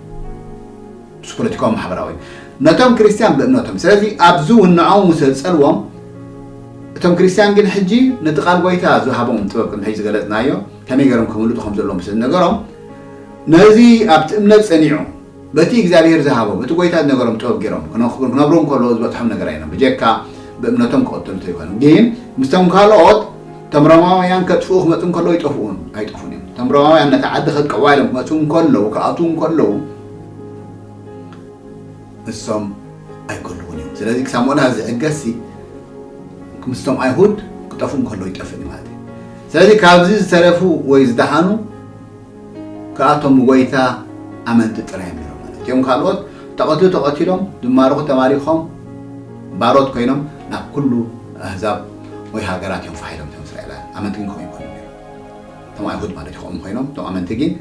ምስ ፖለቲካውን ማሕበራውን ነቶም ክርስትያን ብእምነቶም ስለዚ ኣብዚ እውን ንዖም እውን ስለ ዝጸልዎም እቶም ክርስትያን ግን ሕጂ ነቲ ቃል ጐይታ ዝሃቦም ጥበብ ከም ሕጂ ዝገለጽናዮ ከመይ ገይሮም ከምልጡ ከም ዘለዎም ስለ ዝነገሮም ነዚ ኣብቲ እምነት ጸኒዑ በቲ እግዚኣብሄር ዝሃቦ በቲ ጐይታ ዝነገሮም ጥበብ ገይሮም ክነብሩ እንከለዉ ዝበጽሖም ነገር ኣይነበረን ብጀካ ብእምነቶም ክቕትሉ እንተይኮነ ግን ምስቶም ካልኦት እቶም ሮማውያን ከጥፍኡ ክመጹ እንከለዉ ይጠፍኡን ኣይጠፉን እዮም እቶም ሮማውያን ነታ ዓዲ ከጥቀዋ ኢሎም ክመጹ እንከለዉ ክኣትዉ እንከለዉ እሶም ኣይከልዉን እዮም ስለዚ ክሳብ ሞላስ ዝዕገስሲ ምስቶም ኣይሁድ ክጠፍኡ እንከለዉ ይጠፍእ ማለት እዩ ስለዚ ካብዚ ዝተረፉ ወይ ዝደሓኑ ከኣ እቶም ጐይታ ኣመንቲ ጥራይ እዮም ነይሮም ማለት እዩ። እቶም ካልኦት እተቐትሉ ተቐቲሎም፣ ዝማረኹ ተማሪኾም፣ ባሮት ኰይኖም ናብ ኵሉ ኣህዛብ ወይ ሃገራት እዮም ፋሕ ኢሎም። እቶም እስራኤላውያን ኣመንቲ ግን ከምኡ ኣይኰኑን ነይሮም። እቶም ኣይሁድ ማለት እዩ ከምኡ ኰይኖም፣ እቶም ኣመንቲ ግን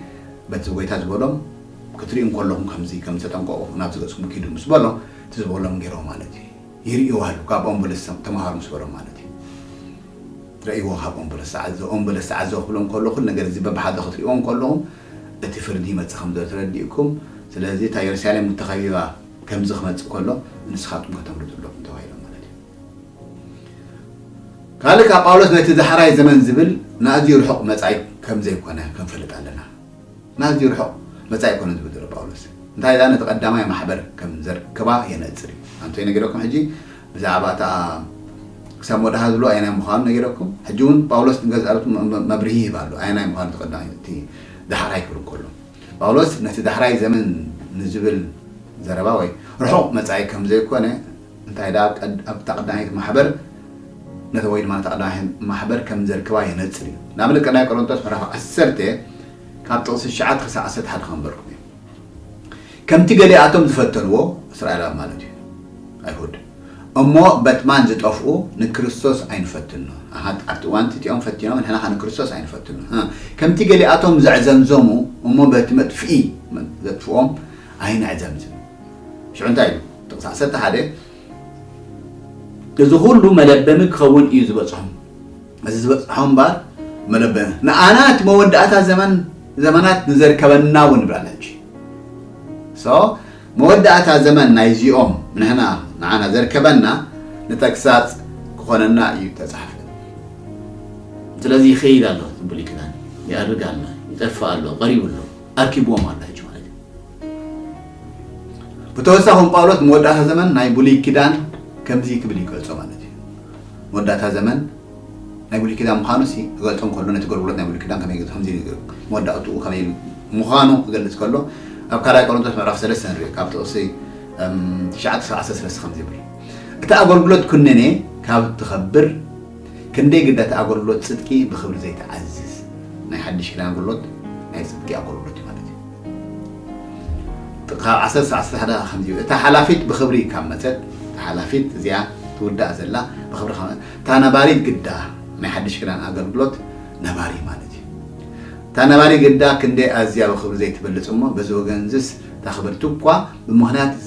በቲ ጐይታ ዝበሎም ክትርእዩ እንከለኹም ከምዚ ከም ዝተጠንቀቑ ናብዚ ገጽኩም ኪዱ ምስ በሎም እቲ ዝበሎም ገይሮም ማለት እዩ። ይርእይዎ ኣለዉ ካብኦም በለስ ተማሃሩ ምስ በሎም ማለት እዩ ረእይዎ ካብኦም በለስ ተዓዘቡ ኦም በለስ ተዓዘቡ ክብሎም ከሎ ኩሉ ነገር እዚ በብሓደ ክትርእይዎም ከለኹም እቲ ፍርዲ ይመጽእ ከም ዘሎ ተረዲእኩም ስለዚ እታ የሩሳሌም እተኸቢባ ከምዚ ክመጽእ ከሎ ንስኻትኩም ከተምልጡ ኣለኹም ተባሂሎም ማለት እዩ ካልእ ካብ ጳውሎስ ነቲ ዛሕራይ ዘመን ዝብል ንኣዝዩ ርሑቕ መጻኢ ከም ዘይኮነ ክንፈልጥ ኣለና ንኣዝዩ ርሑቕ መጻኢ ኮነ ዝብል ዘሎ ጳውሎስ፣ እንታይ ደኣ ነቲ ቀዳማይ ማሕበር ከም ዘርከባ የነጽር እዩ። ኣንቱይ ነጊረኩም ሕጂ ብዛዕባ እታ ክሳብ መወዳእታ ዝብልዋ ኣየናይ ምዃኑ ነጊረኩም። ሕጂ እውን ጳውሎስ ንገዛእ ርእሱ መብርሂ ይህብ ኣሎ፣ ኣየናይ ምዃኑ እቲ ቀዳማይ እቲ ዳሕራይ ክብል እንከሎ። ጳውሎስ ነቲ ዳሕራይ ዘመን ንዝብል ዘረባ ወይ ርሑቕ መጻኢ ከም ዘይኮነ እንታይ ደኣ ኣብ እታ ቀዳመይቲ ማሕበር ነታ ወይ ድማ ነታ ቀዳማይ ማሕበር ከም ዘርከባ የነጽር እዩ። ንኣብነት ቀዳማይ ቆሮንቶስ ምዕራፍ ዓሰርተ ካብ ጥቕሲ ትሽዓተ ክሳዕ ዓሰርተ ሓደ ከንበርኩም እዩ። ከምቲ ገሊኣቶም ዝፈተንዎ፣ እስራኤላዊ ማለት እዩ፣ ኣይሁድ፣ እሞ በትማን ዝጠፍኡ ንክርስቶስ ኣይንፈትኖ። ኣሃ፣ ኣብቲ እዋን እቲ እቲኦም ፈቲኖም ንሕና ኸኣ ንክርስቶስ ኣይንፈትኖ። እህ፣ ከምቲ ገሊኣቶም ዘዕዘምዘሙ እሞ በቲ መጥፍኢ ዘጥፍኦም ኣይነዕዘምዝም። ሽዑ እንታይ ኢሉ? ጥቕሲ ዓሰርተ ሓደ፣ እዚ ኹሉ መለበሚ ክኸውን እዩ ዝበጽሖም። እዚ ዝበጽሖ እምበኣር መለበ ንኣና እቲ መወዳእታ ዘመን ዘመናት ንዘርከበና እውን ይብላል ሕጂ so መወዳእታ ዘመን ናይ እዚኦም ንሕና ንዓና ዘርከበና ንተግሳጽ ክኾነና እዩ ተጻሕፈ ስለዚ ይኸይድ ኣሎ እዚ ብሉይ ኪዳን ይኣርግ ኣሎ ይጠፍእ ኣሎ ቀሪቡ ኣሎ ኣርኪብዎም ኣሎ ሕጂ ማለት እዩ ብተወሳኺ ጳውሎስ ንመወዳእታ ዘመን ናይ ብሉይ ኪዳን ከምዚ ክብል ይገልጾ ማለት እዩ መወዳእታ ዘመን ናይ ብሉይ ኪዳን ምዃኑሲ ክገልጾ እንከሎ ነቲ ኣገልግሎት ናይ ብሉይ ኪዳን ከመይ ከምዚ ኢሉ ገሩ መወዳእትኡ ከመይ ኢሉ ምዃኑ ክገልጽ ከሎ ኣብ ካልኣይ ቆሮንቶስ ምዕራፍ ሰለስተ ንርኢ ካብ ጥቕሲ ትሽዓተ ክሳብ ዓሰርተ ሰለስተ ከምዚ ይብል እቲ ኣገልግሎት ኩነኔ ካብ እትኸብር ክንደይ ግዳ እቲ ኣገልግሎት ጽድቂ ብክብሪ ዘይተዓዝዝ ናይ ሓድሽ ኪዳን ኣገልግሎት ናይ ጽድቂ ኣገልግሎት እዩ ማለት እዩ ጥቃ ዓሰርተ ሰዓት ስራሕ ደኣ ከምዚ እዩ እታ ሓላፊት ብክብሪ ካብ መጸት እታ ሓላፊት እዚኣ ትውዳእ ዘላ ብክብሪ ካብ መጸት እታ ነባሪት ግዳ ናይ ሓድሽ ኪዳን ኣገልግሎት ነባሪ ማለት እዩ እታ ነባሪ ግዳ ክንደይ ኣዝያ ብክብሪ ዘይትበልጽ እሞ በዚ ወገን እዚስ እታ ክብርቲ እኳ ብምክንያት እቲ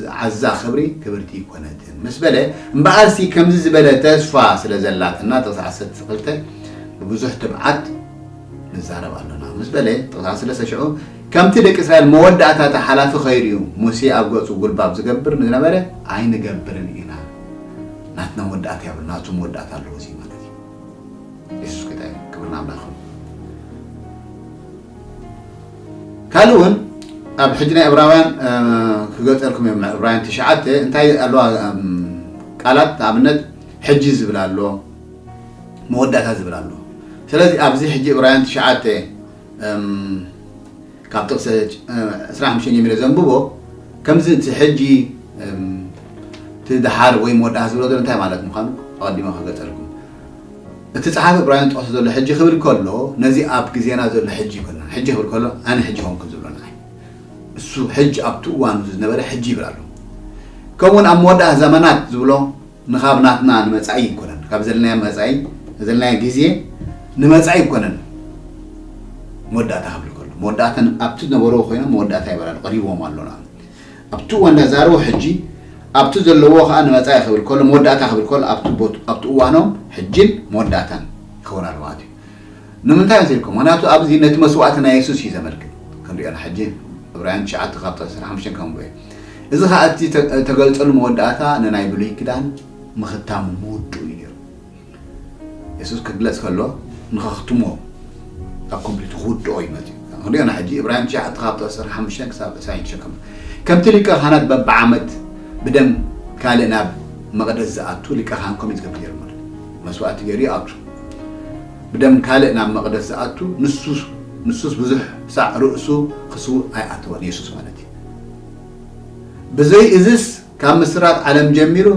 ዝዓዛ ክብሪ ክብርቲ ኣይኮነትን ምስ በለ እምበኣርሲ ከምዚ ዝበለ ተስፋ ስለ ዘላትና ጥቅሲ ዓሰርተ ክልተ ብብዙሕ ትብዓት ንዛረብ ኣሎና ምስ በለ ጥቕሳ ስለሰ ሽዑ ከምቲ ደቂ እስራኤል መወዳእታ እቲ ሓላፊ ከይርእዩ ሙሴ ኣብ ገጹ ጉልባብ ዝገብር ንዝነበረ ኣይንገብርን ኢና ናትና መወዳእታ የብሉ ናቱ መወዳእታ ኣለዎ እዚ ማለት እዩ የሱስ ጌታ እዩ ክብሪ ንኣምላኽ ካልእ እውን ኣብ ሕጂ ናይ እብራውያን ክገልፀልኩም እዮም እብራውያን ትሽዓተ እንታይ ኣለዋ ቃላት ንኣብነት ሕጂ ዝብል ኣሎ መወዳእታ ዝብል ኣሎ ስለዚ ኣብዚ ሕጂ እብራውያን ትሽዓተ እም ካብ ጥቕሲ እ ዕስራን ሓሙሽተን ጀሚረ ዘንብቦ ከምዚ እቲ ሕጂ እም እቲ ደሓር ወይ መወዳእታ ዝብሎ ዘሎ እንታይ ማለት ምዃኑ ኣቐዲመ ክገልጸልኩም እቲ ጸሓፊ እብራውያን ዝጠቕሶ ዘሎ ሕጂ ክብል ከሎ ነዚ ኣብ ግዜና ዘሎ ሕጂ ይኮና ሕጂ ክብል ከሎ ኣነ ሕጂ ኮንኩን ዝብሎ ንዓይ እሱ ሕጂ ኣብቲ እዋኑ ዝነበረ ሕጂ ይብል ኣሎ ከምኡውን ኣብ መወዳእታ ዘመናት ዝብሎ ንካብ ናትና ንመጻኢ ይኮነን ካብ ዘለናዮ መጻኢ ዘለናዮ ግዜ ንመጻኢ ይኮነን መወዳእታ ክብል ከሎ መወዳእታ ኣብቲ ዝነበርዎ ኮይኖም መወዳእታ ይበላሉ ቀሪቦም ኣሎና ኣብቲ እዋን ዳዛርቦ ሕጂ ኣብቲ ዘለዎ ከዓ ንመጻኢ ክብል ከሎ መወዳእታ ክብል ከሎ ኣብቲ እዋኖም ሕጂን መወዳእታን ይኸውን ኣሎ ማለት እዩ ንምንታይ እንተ ኢልኩም፣ ምኽንያቱ ኣብዚ ነቲ መስዋእቲ ናይ የሱስ እዩ ዘመልክት። ክንርእዮ ኢና ሕጂ፣ ዕብራውያን ትሽዓተ ካብ ጥቕሲ ዓሰርተ ሓሙሽተ ከንብቦ እየ። እዚ ኸኣ እቲ እተገልጸሉ መወዳእታ ንናይ ብሉይ ኪዳን ምኽታሙ ምውድኡ እዩ ነይሩ። የሱስ ክግለጽ ከሎ ንኸኽትሞ፣ a complete፣ ክውድኦ እዩ መጺኡ። ክንርእዮ ኢና ሕጂ፣ ዕብራውያን ትሽዓተ ካብ ጥቕሲ ዓሰርተ ሓሙሽተ ክሳብ ዕስራን ሽዱሽተን ከንብቦ። ከምቲ ሊቀ ካህናት በብዓመት ብደም ካልእ ናብ መቕደስ ዝኣቱ ሊቀ ካህን ኮሚት ዝገብር ነይሩ ማለት እዩ። መስዋእቲ ገይሩ ይኣቱ። ብደም ካልእ ናብ መቕደስ ዝኣቱ ንሱ ንሱስ ብዙሕ ሳዕ ርእሱ ክስውእ ኣይኣተወን፣ የሱስ ማለት እዩ። ብዘይ እዝስ ካብ ምስራት ዓለም ጀሚሩ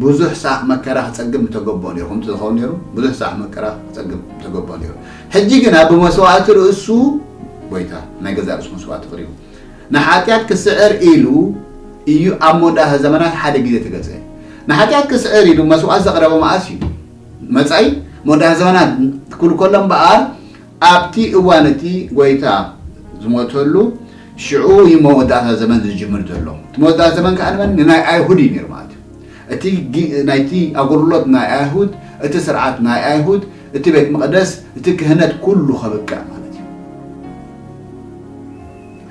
ብዙሕ ሳዕ መከራ ክጸግብ ምተገብኦ ነይሩ፣ ከምቲ ዝኸውን ነይሩ ብዙሕ ሳዕ መከራ ክጸግብ ምተገብኦ ነይሩ። ሕጂ ግና ብመስዋእቲ ርእሱ ጎይታ ናይ ገዛእ ርእሱ መስዋእቲ ኣቕሪቡ። ንሓጢኣት ክስዕር ኢሉ ኢዩ ኣብ መወዳእታ ዘመናት ሓደ ግዜ ተገዝኤ። ንሓጢኣት ክስዕር ኢሉ መስዋእት ዘቕረበ መኣስ ኢዩ? መጻኢ መወዳእታ ዘመናት ክብል ከሎ እምበኣር ኣብቲ እዋን እቲ ጎይታ ዝሞተሉ ሽዑ ኢዩ መወዳእታ ዘመን ዝጅምር ዘሎ። እቲ መወዳእታ ዘመን ከኣ ንመን? ንናይ ኣይሁድ ኢዩ ነይሩ ማለት ኢዩ። እቲ ናይቲ ኣገልግሎት ናይ ኣይሁድ እቲ ስርዓት ናይ ኣይሁድ እቲ ቤት መቕደስ እቲ ክህነት ኩሉ ከብቅዕ ማለት እዩ።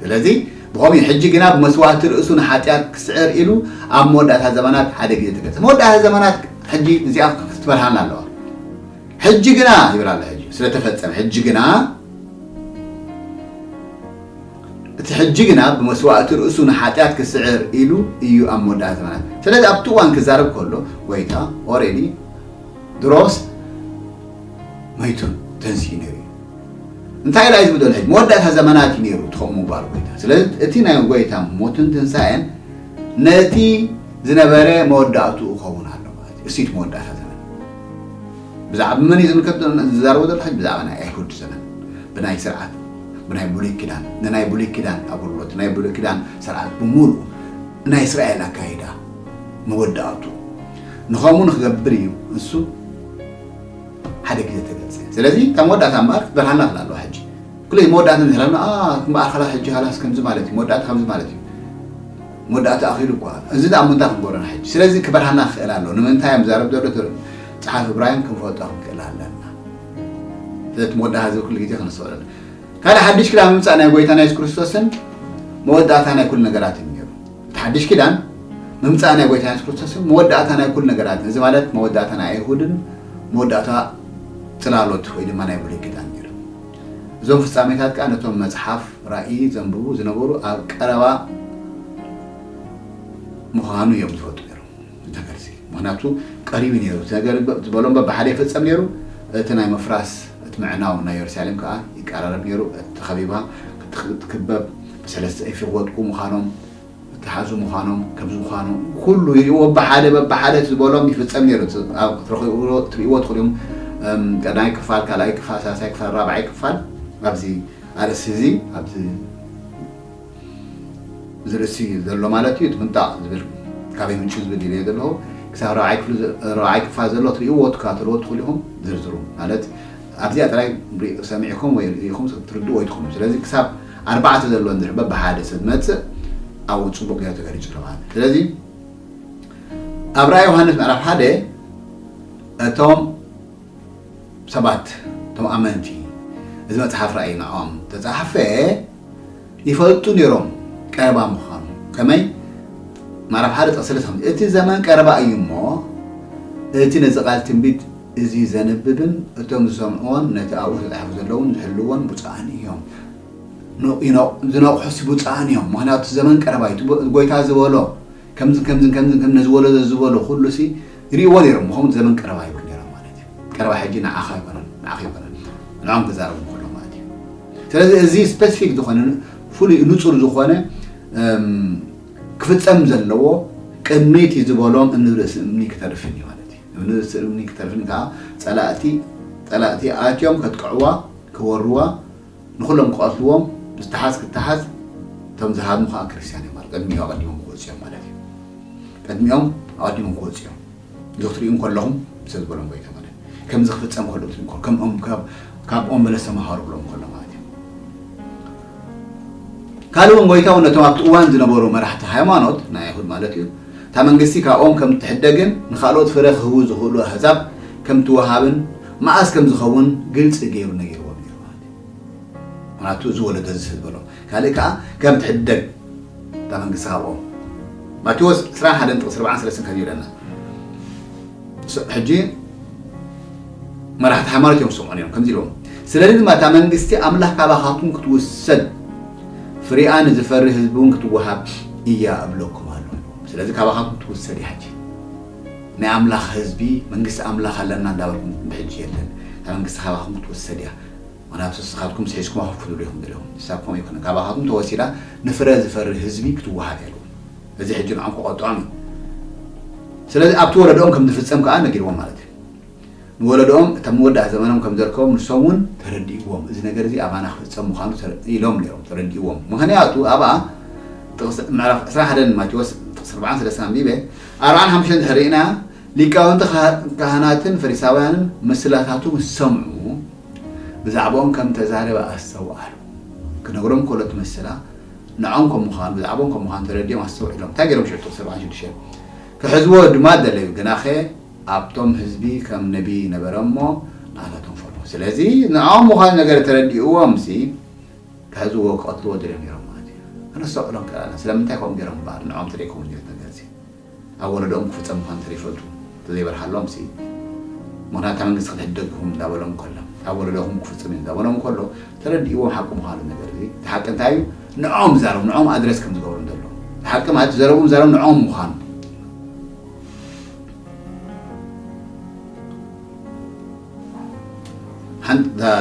ስለዚ ብኸምኡ እዩ። ሕጂ ግና ብመስዋእቲ ርእሱ ንሓጢኣት ክስዕር ኢሉ ኣብ መወዳእታ ዘመናት ሓደ ግዜ ተገልጸ። መወዳእታ ዘመናት ሕጂ እዚኣ ክትበርሃልና ኣለዋ። ሕጂ ግና ይብል ኣሎ ሕጂ ስለ ተፈጸመ ሕጂ ግና እቲ ሕጂ ግና ብመስዋእቲ ርእሱ ንሓጢኣት ክስዕር ኢሉ እዩ ኣብ መወዳእታ ዘመናት። ስለዚ ኣብቲ እዋን ክዛረብ ከሎ ጎይታ ኦሬዲ ድሮስ መይቱ ተንስኡ ነይሩ እዩ እንታይ ዳይ ዝብደል ሕጂ መወዳእታ ዘመናት እዩ ነይሩ ትኸም ምባል ጎይታ ስለዚ እቲ ናይ ጎይታ ሞትን ትንሳኤን ነቲ ዝነበረ መወዳእትኡ ክኸውን ኣሎ ማለት እዩ እሲት መወዳእታ ዘመን ብዛዕባ መን እዩ ዝምልከት ዝዛረቦ ዘሎ ሕጂ ብዛዕባ ናይ ኣይሁድ ዘመን ብናይ ስርዓት ብናይ ብሉይ ኪዳን ንናይ ብሉይ ኪዳን ኣገልግሎት ናይ ብሉይ ኪዳን ስርዓት ብምሉእ ናይ እስራኤል ኣካይዳ መወዳእቱ ንኸምኡ ንክገብር እዩ እሱ ሓደ ግዜ ተገልጸ ስለዚ እታ መወዳእታ እምበኣር ክትበርሃልና ክላ ኣለዋ ሕጂ ኩለይ መወዳእታ ንዝረና እምበኣር ካላ ሕጂ ካላስ ከምዚ ማለት እዩ መወዳእታ ከምዚ ማለት እዩ መወዳእታ ኣኺሉ እኳ እዚ ደኣ ምንታይ ክንገብረና ሕጂ ስለዚ ክበርሃና ክኽእል ኣሎ ንምንታይ እዮም ዛረብ ዘሎ ትብል ፀሓፍ እብራሂም ክንፈልጦ ክንክእል ኣለና ስለቲ መወዳእታ ዝብል ኩሉ ግዜ ክንሰውረሉ ካልእ ሓድሽ ክዳ ምምፃእ ናይ ጎይታና የሱስ ክርስቶስን መወዳእታ ናይ ኩሉ ነገራት እዩ እቲ ሓድሽ ኪዳን ምምጻእ ናይ ጎይታ የሱስ ክርስቶስን መወዳእታ ናይ ኩሉ ነገራትን እዚ ማለት መወዳእታ ናይ ኣይሁድን መወዳእታ ጽላሎት ወይ ድማ ናይ ብሉይ ኪዳን ነይሩ። እዞም ፍጻሜታት ከኣ ነቶም መጽሓፍ ራእይ ዘንብቡ ዝነበሩ ኣብ ቀረባ ምዃኑ እዮም ዝፈልጡ ነይሮም። እቲ መልሲ ምኽንያቱ ቀሪቡ እዩ ነይሩ፣ እቲ ነገር ዝበሎ እምበር ብሓደ ይፍጸም ነይሩ፣ እቲ ናይ ምፍራስ እቲ ምዕናው ናይ የሩሳሌም ከኣ ይቀራረብ ነይሩ፣ እቲ ተኸቢባ እትትክበብ ብሰለስተ እፊ ክወድቁ ምዃኖም፣ ክተሓዙ ምዃኖም፣ ከምዚ ምዃኑ ኩሉ ይሪእዎ በሓደ በብሓደ እቲ ዝበሎም ይፍጸም ነይሩ፣ እቲ ኣብ ክትረኽብዎ ትሪእዎ ትኽእሉ ኢኹም ቀዳማይ ክፋል፣ ካልኣይ ክፋል፣ ሳልሳይ ክፋል፣ ራብዓይ ክፋል ኣብዚ ኣርእስቲ እዚ ኣብዚ እዚ ርእሲ ዘሎ ማለት እዩ እቲ ምንጣቕ ዝብል ካበይ ምንጩ ዝብል ይብየ ዘለኹ ክሳብ ራብዓይ ክፍሊ ራብዓይ ክፋል ዘሎ ትርእይዎ ትከታተልዎ ትኽእሉ ኢኹም ዝርዝሩ ማለት ኣብዚኣ ጥራይ ሰሚዕኩም ወይ ርኢኹም ትርድኡ ኣይትኽእሉ ስለዚ ክሳብ ኣርባዕተ ዘሎ እንድሕር በብሓደ ሰብ መጽእ ኣብኡ ጽቡቕ ገይሩ ተገሊጹ ኣሎ ማለት ስለዚ ኣብ ራእይ ዮሃንስ ምዕራፍ ሓደ እቶም ሰባት እቶም ኣመንቲ እዚ መጽሓፍ ራእይ ንዖም ተጻሕፈ ይፈልጡ ኔሮም ቀረባ ምዃኑ ከመይ ማራብ ሓደ ጥቕሲ ልትኸም እቲ ዘመን ቀረባ እዩ እሞ እቲ ነዚ ቃል ትንቢት እዚ ዘንብብን እቶም ዝሰምዕዎን ነቲ ኣብኡ ተጻሒፉ ዘለውን ዝሕልዎን ብፁዓን እዮም ዝነቕሑስ ብፁዓን እዮም ምክንያቱ ዘመን ቀረባ እዩ ጎይታ ዝበሎ ከምዝን ከምዝን ከምዝን ከም ነዚ ወለዶ እዚ ዝበሎ ኩሉ ሲ ይርእይዎ ነይሮም ኸምኡ ዘበን ቀረባ ይብሉ ነይሮም ማለት እዩ ቀረባ ሕጂ ንዓኻ ኣይኮነን ንዓኺ ኣይኮነን ንዕኦም ክዛረቡ ከሎ ማለት እዩ ስለዚ እዚ ስፔሲፊክ ዝኾነ ፍሉይ ንጹር ዝኾነ ክፍጸም ዘለዎ ቅድሚቲ ዝበሎም እምኒ ርእሲ እምኒ ክተርፍን እዩ ማለት እዩ እምኒ ርእሲ እምኒ ክተርፍን ከዓ ጸላእቲ ጸላእቲ ኣትዮም ከጥቅዕዋ ክወርዋ ንኹሎም ክቐትልዎም ዝተሓዝ ክተሓዝ እቶም ዝሃድሙ ከኣ ክርስትያን እዮም ማለት ቅድሚኡ ኣቐዲሞም ክወጹ እዮም ማለት እዩ ቅድሚኦም ኣቐዲሞም ክወጹ እዮም እዚ ክትሪኡ ከለኹም ሰብ ዝበሎም ጎይታ ማለት ከምዚ ክፍጸም ከሎ ክትሪኡ ከሎ ከምኦም ካብ ኦም በለስ ተምሃሩ ብሎም ከሎ ማለት እዩ ካልእ እውን ጎይታ እውን ነቶም ኣብቲ እዋን ዝነበሩ መራሕቲ ሃይማኖት ናይ ኣይሁድ ማለት እዩ እታ መንግስቲ ካብኦም ከም እትሕደግን ንካልኦት ፍረ ክህቡ ዝኽእሉ ኣህዛብ ከም ትወሃብን መኣስ ከም ዝኸውን ግልፂ ገይሩ ነጊርዎም እዩ ምክንያቱ እዚ ወለዶ እዚ ስለዝበሎ ካልእ ከኣ ከምቲ ሕደግ እታ መንግስቲ ካብኦም ማቴዎስ ዕስራን ሓደን ጥቕሲ ርብዓን ሰለስትን ከምዚ ይብለና ሕጂ መራሕቲ ሃይማኖት እዮም ዝሰምዑ ነይሮም ከምዚ ኢልዎም ስለዚ ድማ እታ መንግስቲ ኣምላኽ ካባኻትኩም ክትውሰድ ፍሪኣ ንዝፈሪ ህዝቢ እውን ክትወሃብ እያ እብለኩም ኣሎ ስለዚ ካባኻትኩም ትውሰድ እያ ሕጂ ናይ ኣምላኽ ህዝቢ መንግስቲ ኣምላኽ ኣለና እንዳበልኩም ብሕጂ የለን እታ መንግስቲ ካባኹም ክትውሰድ እያ ምኽንያቱ ንስኻትኩም ስሒዝኩማ ኮፍ ክትብሉ ኢኹም ደሊኹም ሕሳብ ከምኡ ኣይኮነን ካባኻትኩም ተወሲዳ ንፍረ ዝፈሪ ህዝቢ ክትወሃብ እያ ደሊኹም እዚ ሕጂ ንዖም ከቆጥዖም እዩ ስለዚ ኣብቲ ወለዶኦም ከም ዝፍጸም ከኣ ነጊርዎም ማለት እዩ። ንወለዶኦም እታ መወዳእታ ዘመኖም ከም ዘርከቦም ንሶም እውን ተረዲእዎም እዚ ነገር እዚ ኣባና ክፍጸም ምዃኑ ኢሎም ነይሮም ተረዲእዎም ምኽንያቱ ኣብኣ ጥቕሲ ምዕራፍ ዕስራን ሓደን ማቴዎስ ጥቕሲ ኣርባዓን ሰለስተን ኣንቢበ ኣርባዓን ሓሙሽተን እንድሕር ርኢና ሊቃውንቲ ካህናትን ፈሪሳውያንን ምስላታቱ ምስ ሰምዑ ብዛዕባኦም ከም እተዛረበ ኣስተውዓሉ ክነግሮም ከሎ እቲ ምስላ ንዖም ከም ምዃኑ ብዛዕባኦም ከም ምዃኑ ተረዲኦም ኣስተውዒሎም እንታይ ገይሮም ሽዑ ጥቕሲ ኣርባዓን ሽዱሽተን ክሕዝዎ ድማ ደለዩ ግናኸ ኣብቶም ህዝቢ ከም ነቢይ ነበረ እሞ ንኣታቶም ፈርሆ ስለዚ ንዖም ምዃኑ ነገር ተረዲእዎምሲ ክሕዝዎ ክቐትልዎ ደልዮም ነይሮም ማለት እዩ ከነስተውዕሎም ክኣና ስለምንታይ ከምኡ ገይሮም እምበኣር ንዖም ተደይከውን ዝነት ነገርሲ ኣብ ወለዶኦም ክፍፀም ምዃኑ ተዘይፈልጡ ተዘይበርሃሎምሲ ምክንያቱ እታ መንግስቲ ክትሕደግ ኢኹም እንዳበሎም ከሎ ኣብ ወለዶኹም ክፍፅም እዩ እንዳበሎም ከሎ ተረዲእዎም ሓቂ ምዃኑ ነገር እዚ እቲ ሓቂ እንታይ እዩ ንዖም ዛረቡ ንዖም ኣድረስ ከም ዝገብሩ እንተሎ እቲ ሓቂ ማለት ዘረቡ ዛረቡ ንዖም ምዃኑ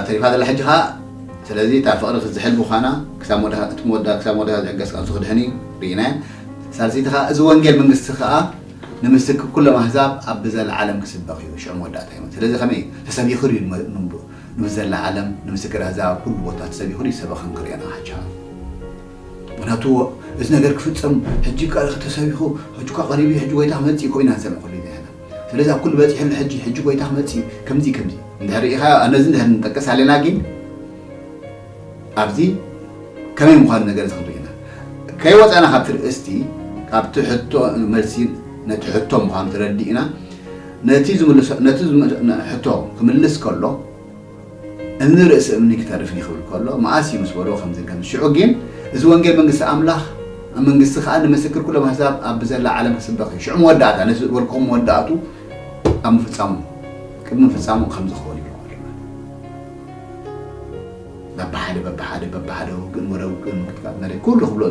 ተሪፋ ዘላ ሕጂ ከዓ ስለዚ እታ ፍቅሪ ክትዝሕል ምዃና ክሳብ መወዳእታ እቲ መወዳእታ ክሳብ መወዳእታ ዝዕገስ ቃልሱ ክድሕን እዩ ርኢናዮ ሳልሰይቲ ከዓ እዚ ወንጌል መንግስቲ ከዓ ንምስክ ኩሎም ኣህዛብ ኣብ ብዘለዓለም ክስበኽ እዩ ሽዑ መወዳእታ እዩ ስለዚ ከመይ ተሰቢኹ እዩ ንብዘለዓለም ንምስክር ኣህዛብ ኣብ ኩሉ ቦታ ተሰቢኹ ይሰበኽን ክርእዮን ኣሓቻ ምክንያቱ እዚ ነገር ክፍጸም ሕጂ እካ ኢኪ ተሰቢኩ ሕጂ እኳ ቀሪቡ እዩ ሕጂ ጎይታ ክመጽእ እዩ ኢና ንሰምዕ ኩሉ ግዜ ስለዚ ኣብ ኩሉ በጺሑ ኣሎ ሕጂ ሕጂ ጎይታ ክመጽእ እዩ ከምዚ ከምዚ እንድሕር ሪኢካዮ ነዚ እንድሕር ንጠቅስ ኣለና ግን ኣብዚ ከመይ ምዃኑ ነገር እዚ ክንርኢ ኢና ከይወጻና ካብቲ ርእስቲ ካብቲ ሕቶ መልሲ ነቲ ሕቶ ምዃኑ ተረዲእና ነቲ ዝምልሶ ነቲ ሕቶ ክምልስ ከሎ እምኒ ርእሲ እምኒ ክተርፍ እዩ ክብል ከሎ መኣስ እዩ ምስ በሎ ከምዚ ከምዚ ሽዑ ጊን እዚ ወንጌል መንግስቲ ኣምላኽ መንግስቲ ከኣ ንምስክር ኩሎም ኣሕዛብ ኣብ ብዘላ ዓለም ክስበኽ እዩ ሽዑ መወዳእታ ነቲ ዝበልክኹም መወዳእቱ ኣብ ምፍጻሙ ቅድሚ ምፍጻሙ ከምዚ ክኸውን እዩ በብሓደ በብሓደ በብሓደ ውግእን ወረ ውግእን ምክትካት መሬት ኩሉ ክብሎ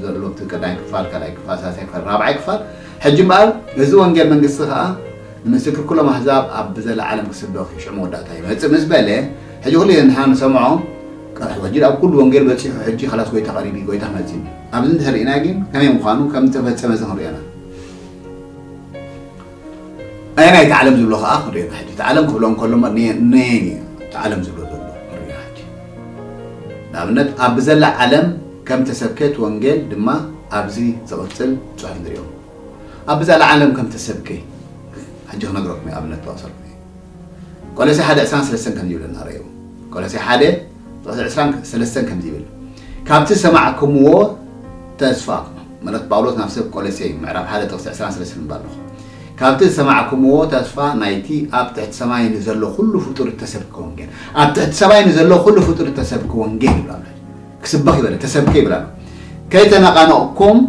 ዘሎ እቲ ቀዳይ ክፋል ካልኣይ ክፋል ሳልሳይ ክፋል ራብዓይ ክፋል ሕጂ እምበኣር እዚ ወንጌል መንግስቲ ከዓ ንምስክር ኩሎም ኣህዛብ ኣብ ዘለዓለም ክስበኽ እዩ፣ ሽዑ መወዳእታ ይመጽእ ምስ በለ፣ ሕጂ ኩሉ ንሕና ንሰምዖ ቀርሑ ሕጂ ኣብ ኩሉ ወንጌል በጺሑ ሕጂ ኸላስ ጎይታ ቀሪቡ እዩ ጎይታ ክመጽእ እዩ ኣብዚ እንተ ርኢና ግን ከመይ ምዃኑ ከም ዝተፈጸመ እዚ ክንሪኦ ኢና ኣየናይ እቲ ዓለም ዝብሎ ኸኣ ክንሪኦ ኢና ሕጂ እቲ ዓለም ክብሎ እንከሎ ነየን እዩ እቲ ዓለም ዝብሎ ዘሎ ክንሪኦ ሕጂ ንኣብነት ኣብ ብዘላ ዓለም ከም ተሰብከት ወንጌል ድማ ኣብዚ ዝቕጽል ጽሑፍ ንሪኦ ኣብ ብዛላ ዓለም ከም ተሰብከ ሕጂ ክነግረኩም እየ ኣብነት ጠቕሰልኩም እየ ቆለሴ ሓደ ዕስራን ሰለስተን ከምዚ ይብል እናረዩ ቆለሴ ሓደ ጥቕሲ ዕስራን ሰለስተን ከምዚ ይብል ካብቲ ሰማዕክምዎ ተስፋ መልእኽቲ ጳውሎስ ናብ ሰብ ቆለሴ እዩ ምዕራፍ ሓደ ጥቕሲ ዕስራን ሰለስተን እባ ኣለኹ ካብቲ ዝሰማዕክምዎ ተስፋ ናይቲ ኣብ ትሕቲ ሰማይ ንዘሎ ኩሉ ፍጡር እተሰብከ ወንጌል ኣብ ትሕቲ ሰማይ ንዘሎ ኩሉ ፍጡር እተሰብከ ወንጌል ይብላ ኣሎ ክስበኽ ይበለ ተሰብከ ይብል ኣሎ። ከይተነቓነቕኩም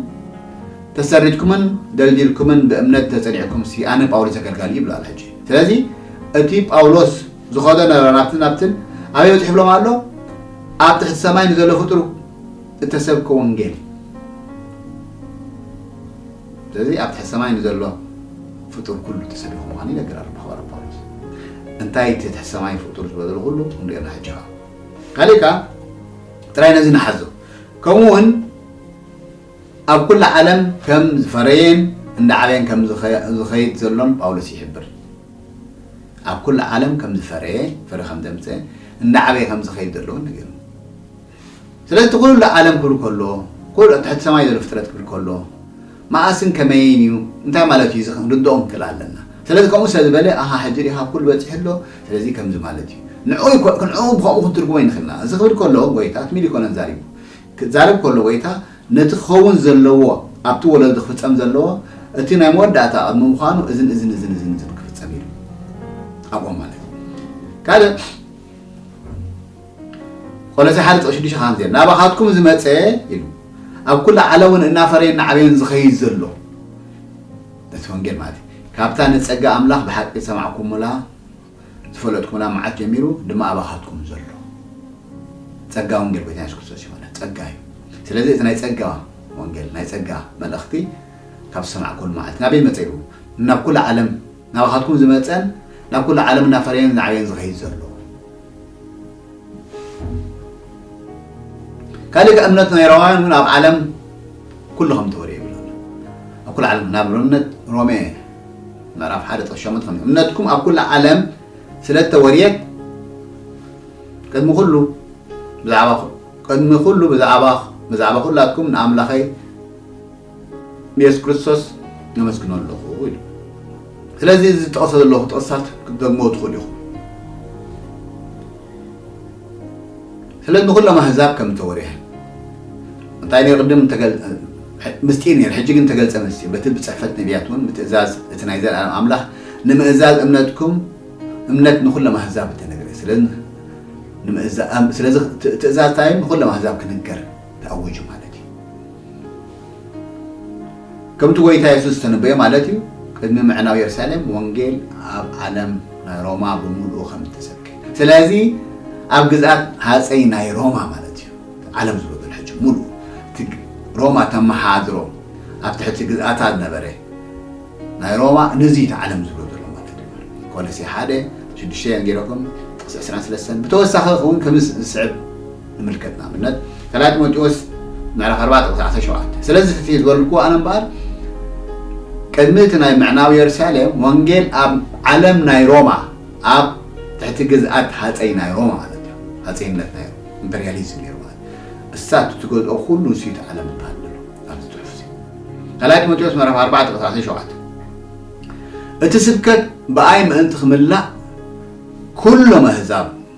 ተሰሪትኩምን ደልዲልኩምን ብእምነት ተጸኒዕኩምሲ ኣነ ጳውሎስ ኣገልጋሊ ይብሉ ኣሎ ሕጂ። ስለዚ እቲ ጳውሎስ ዝኸዶ ነበረ ናብትን ናብትን ኣበይ በጺሑ ይብሎም ኣሎ? ኣብ ትሕቲ ሰማይ ንዘሎ ፍጡር እተሰብከ ወንጌል ስለዚ ኣብ ትሕቲ ሰማይ ንዘሎ ፍጡር ኩሉ ተሰቢኹ ምዃኑ ይነገር ኣሎ ብሓዋርያ ጳውሎስ እንታይ እቲ ትሕቲ ሰማይ ፍጡር ዝበሎ ኩሉ ክንሪኦ ሕጂ ካልእ ከኣ ጥራይ ነዚ ንሓዞ ከምኡ እውን ኣብ ኩሉ ዓለም ከም ዝፈረየን እንዳዓበየን ከም ዝኸይድ ዘሎን ጳውሎስ ይሕብር ኣብ ኩሉ ዓለም ከም ዝፈረየ ፍረ ከም ዘምፅእ እንዳዓበየ ከም ዝኸይድ ዘሎ እውን ነገሩ ስለዚ እቲ ኩሉ ዓለም ክብል ከሎ ኩሉ ትሕቲ ሰማይ ዘሎ ፍጥረት ክብል ከሎ መኣስን ከመይን እዩ? እንታይ ማለት እዩ እዚ ክንርድኦ ንክእል ኣለና። ስለዚ ከምኡ ስለ ዝበለ ኣሃ ሕጂ ርኢኻ ኩሉ በጺሑ ኣሎ ስለዚ ከምዚ ማለት እዩ ንዕኡ ንዕኡ ብከምኡ ክንትርጉሞ ኣይንክእልና። እዚ ክብል ከሎ ጎይታ ትም ኢሉ ኣይኮነን ዛሪቡ። ክዛረብ ከሎ ጎይታ ነቲ ክኸውን ዘለዎ ኣብቲ ወለዶ ክፍጸም ዘለዎ እቲ ናይ መወዳእታ ቅድሚ ምዃኑ እዝን እዝን እዝን እዝን እዝን ክፍጸም ኢሉ ኣብኦም ማለት እዩ። ካልእ ቆሎሴ ሓደ ጥቕሺ ሽዱሽተ ኻምዚየ ናባኻትኩም ዝመጸ ኢሉ ኣብ ኩሉ ዓለምውን እናፈረየን እናዕበየን ዝኸይድ ዘሎ ነቲ ወንጌል ማለት ካብታ ንጸጋ ኣምላኽ ብሓቂ ዝሰማዕኩሙላ ዝፈለጥኩሙላ መዓልት ጀሚሩ ድማ ኣባኻትኩም ዘሎ ጸጋ ወንጌል ጎይታ የሱስ ክርስቶስ ይኾነ ጸጋ እዩ ስለዚ እቲ ናይ ጸጋ ወንጌል ናይ ጸጋ መልእኽቲ ካብ ዝሰማዕኩሉ መዓልቲ ናበይ መጸ ኢሉ ናብ ኩሉ ዓለም ናባኻትኩም ዝመጸን ናብ ኩሉ ዓለም እናፈረየን ዝዓበየን ዝኸይድ ዘሎ ካልእ ከ እምነት ናይሮማውያን እውን ኣብ ዓለም ኩሉ ከም ተወርየ ይብል ኣሎ ኣብ ኩሉ ዓለም ናብ እምነት ሮሜ ምዕራፍ ሓደ ጥቕስ ሸሞንተ ከም እምነትኩም ኣብ ኩሉ ዓለም ስለ እተወርየት ቅድሚ ኩሉ ብዛዕባ ቅድሚ ኩሉ ብዛዕባ ብዛዕባ ኩላትኩም ንኣምላኸይ ንየሱስ ክርስቶስ ነመስግኖ ኣለኹ ኢሉ። ስለዚ እዚ ዝጠቕሰ ዘለኹ ጥቕስታት ክትደግሞ ትኽእሉ ኢኹም። ስለ ንኹሎም ኣህዛብ ከም እተወርሔ እንታይ ነይ ቅድም ምስጢር ነይሩ፣ ሕጂ ግን ተገልጸ ምስጢር በቲ ብጽሕፈት ነቢያት እውን ብትእዛዝ እቲ ናይ ዘለኣለም ኣምላኽ ንምእዛዝ እምነትኩም እምነት ንኹሎም ኣህዛብ እተነግረ ስለዚ ትእዛዝ እንታይ እዩ ንኹሎም ኣህዛብ ክንገር ተኣወጁ ማለት እዩ። ከምቲ ጐይታ የሱስ ዝተነበዮ ማለት እዩ፣ ቅድሚ ምዕናው የሩሳሌም ወንጌል ኣብ ዓለም ናይ ሮማ ብምሉኡ ከም እተሰብከ። ስለዚ ኣብ ግዝኣት ሃጸይ ናይ ሮማ ማለት እዩ፣ እቲ ዓለም ዝበሎ ሕጂ ምሉኡ እቲ ሮማ እተመሓድሮ ኣብ ትሕቲ ግዝኣታ ዝነበረ ናይ ሮማ ነዚ እዩ እቲ ዓለም ዝብሎ ዘሎ ማለት እዩ። ቆሎሴ ሓደ ሽዱሽተ ጌረኩም ጥቕሲ ዕስራን ስለስተን ብተወሳኺ እውን ከም ዝስዕብ ንምልከት ንኣብነት ካልኣይ ጢሞቴዎስ ምዕራፍ ኣርባዕተ ቁፅሪ ዓሰርተ ሸውዓተ ስለዚ ፍትሒ ዝበልኩዎ ኣነ እምበኣር ቅድሚ እቲ ናይ ምዕናው የሩሳሌም ወንጌል ኣብ ዓለም ናይ ሮማ ኣብ ትሕቲ ግዝኣት ሃፀይ ናይ ሮማ ማለት እዩ ሃፀይነት ናይ ኢምፐሪያሊዝም ነይሩ ማለት እሳት እትገዝኦ ኩሉ ንስዩት ዓለም ይበሃል ዘሎ ኣብዚ ፅሑፍ እዚ ካልኣይ ጢሞቴዎስ ምዕራፍ ኣርባዕተ ቁፅሪ ዓሰርተ ሸውዓተ እቲ ስብከት ብኣይ ምእንቲ ክምላእ ኩሎም ኣህዛብ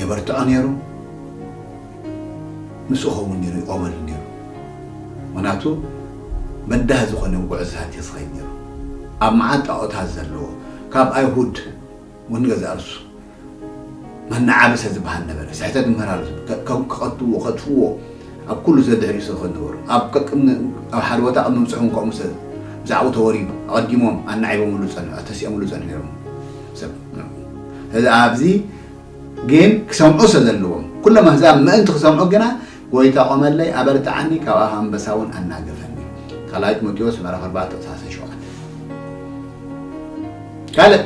የበርትዖ ነይሩ ምስኡ ከውን ነይሩ ይቆመሉ ነይሩ ምክንያቱ በዳህ ዝኮነ ውጉዕዝታት የስከይድ ነይሩ ኣብ መዓት ጣኦታት ዘለዎ ካብ ኣይሁድ ውን ገዛእርሱ መናዓበሰ ዝበሃል ነበረ ስሕተት ምህራሉ ክቀትልዎ ከጥፍዎ ኣብ ኩሉ ዘድሕሪኡ ስለዝኮነ ነበሩ ኣብ ቀቅድሚ ኣብ ሓደ ቦታ ቅድሚ ምብጽሑ ውን ከምኡ ስለ ብዛዕኡ ተወሪዱ ኣቀዲሞም ኣናዒቦምሉ ዝጸንሑ ኣተሲኦምሉ ዝጸንሑ ነይሮም ሰብ ስለዚ ኣብዚ ግን ክሰምዑ ሰዘለዎም ኩሎም ኣህዛብ ምእንቲ ክሰምዑ ግና ጎይታ ቆመለይ ኣበርትዓኒ ካብ ኣፍ ኣንበሳ እውን ኣናገፈኒ ካልኣይ ጢሞቴዎስ ምዕራፍ ኣርባዕተ ቁጽሪ ዓሰርተ ሸውዓተ ካልእ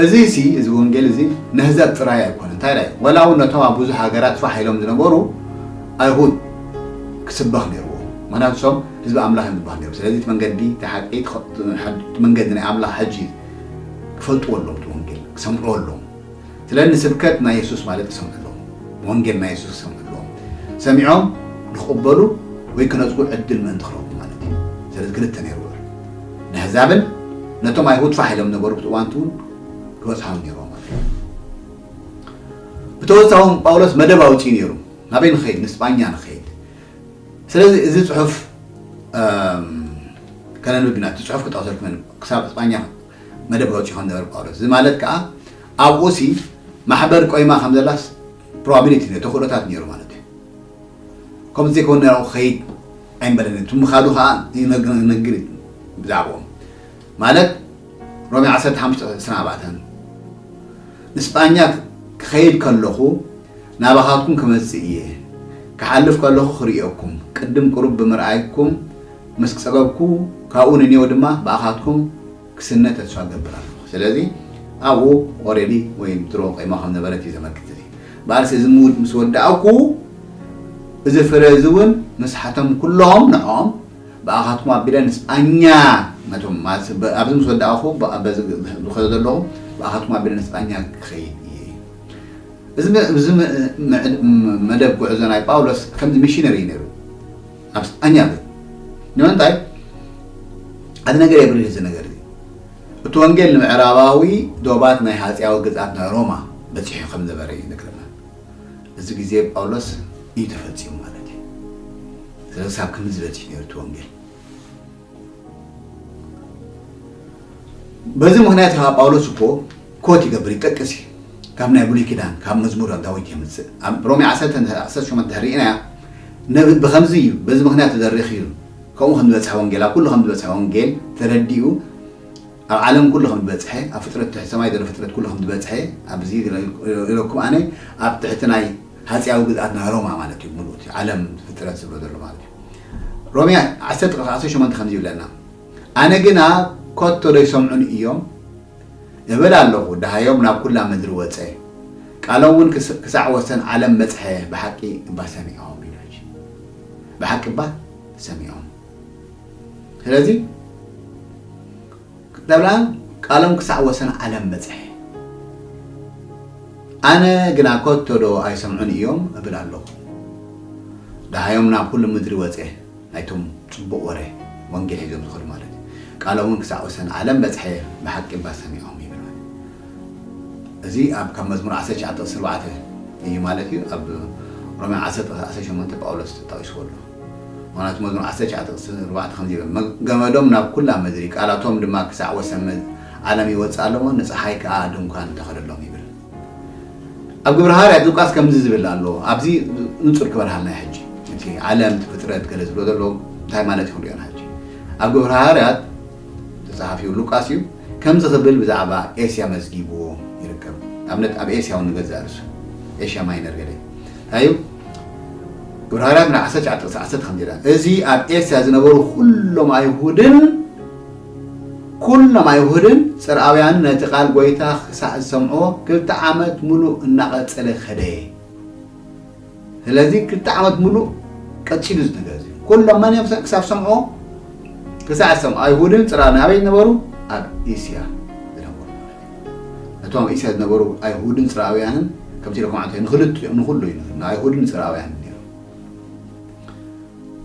እዚ ሲ እዚ ወንጌል እዚ ነህዘብ ጥራይ ኣይኮነ እንታይ ዳይ ወላ እውን ነቶም ኣብ ብዙሕ ሃገራት ፋሕ ኢሎም ዝነበሩ ኣይሁድ ክስበኽ ነይርዎ ምክንያቱ ሶም ህዝቢ ኣምላኽ እዮም ዝበሃል ነይሩ ስለዚ እቲ መንገዲ እቲ ሓቂ መንገዲ ናይ ኣምላኽ ሕጂ ክፈልጥዎ ኣሎዎም እቲ ወንጌል ክሰምዕዎ ኣሎዎም ስለ ንስብከት ናይ የሱስ ማለት ክሰምዑ ኣሎዎም ንወንጌል ናይ የሱስ ክሰምዑ ኣሎዎም ሰሚዖም ንክቕበሉ ወይ ክነጽጉ ዕድል ምእንቲ ክረኽቡ ማለት እዩ ስለዚ ክልተ ነይሩ ውዕል ነሕዛብን ነቶም ኣይሁድ ፋሕ ኢሎም ነበሩ ብቲ እዋንቲ እውን ክበጽሖም ነይሩ ብተወሳኺ ጳውሎስ መደብ ኣውጺኡ ነይሩ ናበይ ንኸይድ ንስጳኛ ንኸይድ ስለዚ እዚ ጽሑፍ ከነንብብ ኢና እቲ ጽሑፍ ክጠቕሰልኩም ክሳብ እስጳኛ መደብ ክወጽእ ይኸውን ዝነበረ ጳውሎስ እዚ ማለት ከዓ ኣብኡ ሲ ማሕበር ቆይማ ከም ዘላስ ፕሮባቢሊቲ ነዮ ተኽእሎታት ነይሩ ማለት እዩ ከምኡ ዘይከውን ነራኡ ክኸይድ ኣይምበለን እቲ ምኻዱ ከዓ ይነግር ብዛዕባኦም ማለት ሮሜ 15 24 ንስጳኛ ክኸይድ ከለኹ ናባኻትኩም ክመጽእ እየ፣ ክሓልፍ ከለኹ ክርእየኩም፣ ቅድም ቁሩብ ብምርኣይኩም ምስ ጸገብኩ፣ ካብኡ ንኔው ድማ ብኣኻትኩም ክስነ ተስፋ እገብር ኣለኹ። ስለዚ ኣብኡ ኦረዲ ወይ ድሮ ቆይማ ከም ነበረት እዩ ዘመልክት እዚ። ባርስ እዚ ምስ ወዳእኩ፣ እዚ ፍረ እዚ እውን ምስ ሓቶም ኩሎም ንዕኦም ብኣኻትኩም ኣቢለ ንስጳኛ ነቶም ኣብዚ ምስ ወዳእኹ በዚ ዝኸዶ ዘለኹ ብኣኻትኩም ኣቢለ ንስጳኛ ክኸይድ እየ። እዚ መደብ ጉዕዞ ናይ ጳውሎስ ከምዚ ሚሽነሪ እዩ ነይሩ ኣብ ስጳኛ ግን ንምንታይ ኣቲ ነገር የብርህ እዚ ነገር እዚ እቲ ወንጌል ንምዕራባዊ ዶባት ናይ ሃጽያዊ ግዝኣት ናይ ሮማ በጺሑ ከም ነበረ እዩ ይነግረና እዚ ግዜ ጳውሎስ እዩ ተፈጺሙ ማለት እዩ ስለዚ ሳብ ክምዚ በጺሑ ነይሩ እቲ ወንጌል በዚ ምክንያት ከዓ ጳውሎስ እኮ ኮት ይገብር ይጠቅስ እዩ ካብ ናይ ብሉይ ኪዳን ካብ መዝሙር ዳዊት የምፅእ ኣብ ሮሜ 18 ድሕሪ ኢና ነቢ ብከምዚ እዩ በዚ ምክንያት ዘሪኽ እዩ ከምኡ ከም ዝበፅሐ ወንጌል ኣብ ኩሉ ከም ዝበፅሐ ወንጌል ተረዲኡ ኣብ ዓለም ኩሉ ከም ዝበፅሐ ኣብ ፍጥረት ትሕቲ ሰማይ ዘሎ ፍጥረት ኩሉ ከም ዝበፅሐ ኣብዚ ኢለኩም ኣነ ኣብ ትሕቲ ናይ ሃጺያዊ ግዝኣት ናይ ሮማ ማለት እዩ ሙሉእ እቲ ዓለም ፍጥረት ዝብሎ ዘሎ ማለት እዩ ሮሜ ዓሰርተ ቁጽሪ ዓሰርተ ሸሞንተ ከምዚ ይብለና ኣነ ግና ኮቶ ዶ ይሰምዑኒ እዮም እብል ኣለኹ ደሃዮም ናብ ኩላ ምድሪ ወጸ ቃሎም እውን ክሳዕ ወሰን ዓለም በጽሐ ብሓቂ እባ ሰሚዖም ይብል ሕጂ ብሓቂ እባ ሰሚዖም ስለዚ ደብላን ቃሎም ክሳዕ ወሰን ዓለም በጽሕ። ኣነ ግና ከቶዶ ኣይሰምዑን እዮም እብል ኣሎኹ። ደሃዮም ናብ ኹሉ ምድሪ ወጸ፣ ናይቶም ጽቡቕ ወረ ወንጌል ሒዞም ዝኸዱ ማለት እዩ፣ ቃሎምውን ክሳዕ ወሰን ዓለም በጽሐ፣ ብሓቂ እባ ሰሚዖም ይብል ማለት እዩ። እዚ ኣብ ካብ መዝሙር ዓሰርተ ትሽዓተ ቕጽሪ ኣርባዕተ እዩ ማለት እዩ፣ ኣብ ሮሜ ዓሰርተ ቕጽሪ ዓሰርተ ሸሞንተ ጳውሎስ ተጠቒስዎ ኣሎ። ምኽንያቱ መዝሙር ዓሰርተ ትሽዓተ ቁጽሪ ኣርባዕተ ከምዚ ይብል፣ ገመዶም ናብ ኵላ ምድሪ፣ ቃላቶም ድማ ክሳዕ ወሰን ዓለም ይወጽእ ኣሎ እሞ፣ ንጸሓይ ከኣ ድንኳን ተኸለሎም ይብል። ኣብ ግብረ ሃዋርያት ሉቃስ ከምዚ ዝብል ኣሎ፣ ኣብዚ ንጹር ክበርሃልና እዩ ሕጂ። እቲ ዓለም፣ እቲ ፍጥረት ገለ ዝብሎ ዘሎ እንታይ ማለት እዩ ክንርእዮ ኢና ሕጂ። ኣብ ግብረ ሃዋርያት ተጻሓፊ ሉቃስ እዩ፣ ከምዚ ክብል ብዛዕባ ኤስያ መዝጊብዎ ይርከብ። ንኣብነት ኣብ ኤስያ እውን ንገዛእ ርእሱ፣ ኤሽያ ማይነር ገለ እንታይ እዩ? ዕብራውያን ምዕራፍ ዓሰርተ ትሽዓተ ጥቕሲ ዓሰርተ ከምዚ ይላል እዚ ኣብ ኤስያ ዝነበሩ ኩሎም ኣይሁድን ኩሎም ኣይሁድን ጽርኣውያንን ነቲ ቃል ጎይታ ክሳዕ ዝሰምዕዎ ክልተ ዓመት ምሉእ እናቐጸለ ከደ ስለዚ ክልተ ዓመት ምሉእ ቀጺሉ እዚ ነገር እዚ ኩሎም መን እዮም ክሳብ ሰምዕዎ ክሳዕ ዝሰምዑ ኣይሁድን ጽርኣውያን ኣበይ ነበሩ ኣብ ኤስያ ዝነበሩ ማለት እቶም ኣብ እስያ ዝነበሩ ኣይሁድን ጽርኣውያንን ከምቲ ኢለኩም ዓመተ ንኽልቲኦም ንኹሉ እዩ ንኣይሁድን ንጽርኣውያንን ነይሩ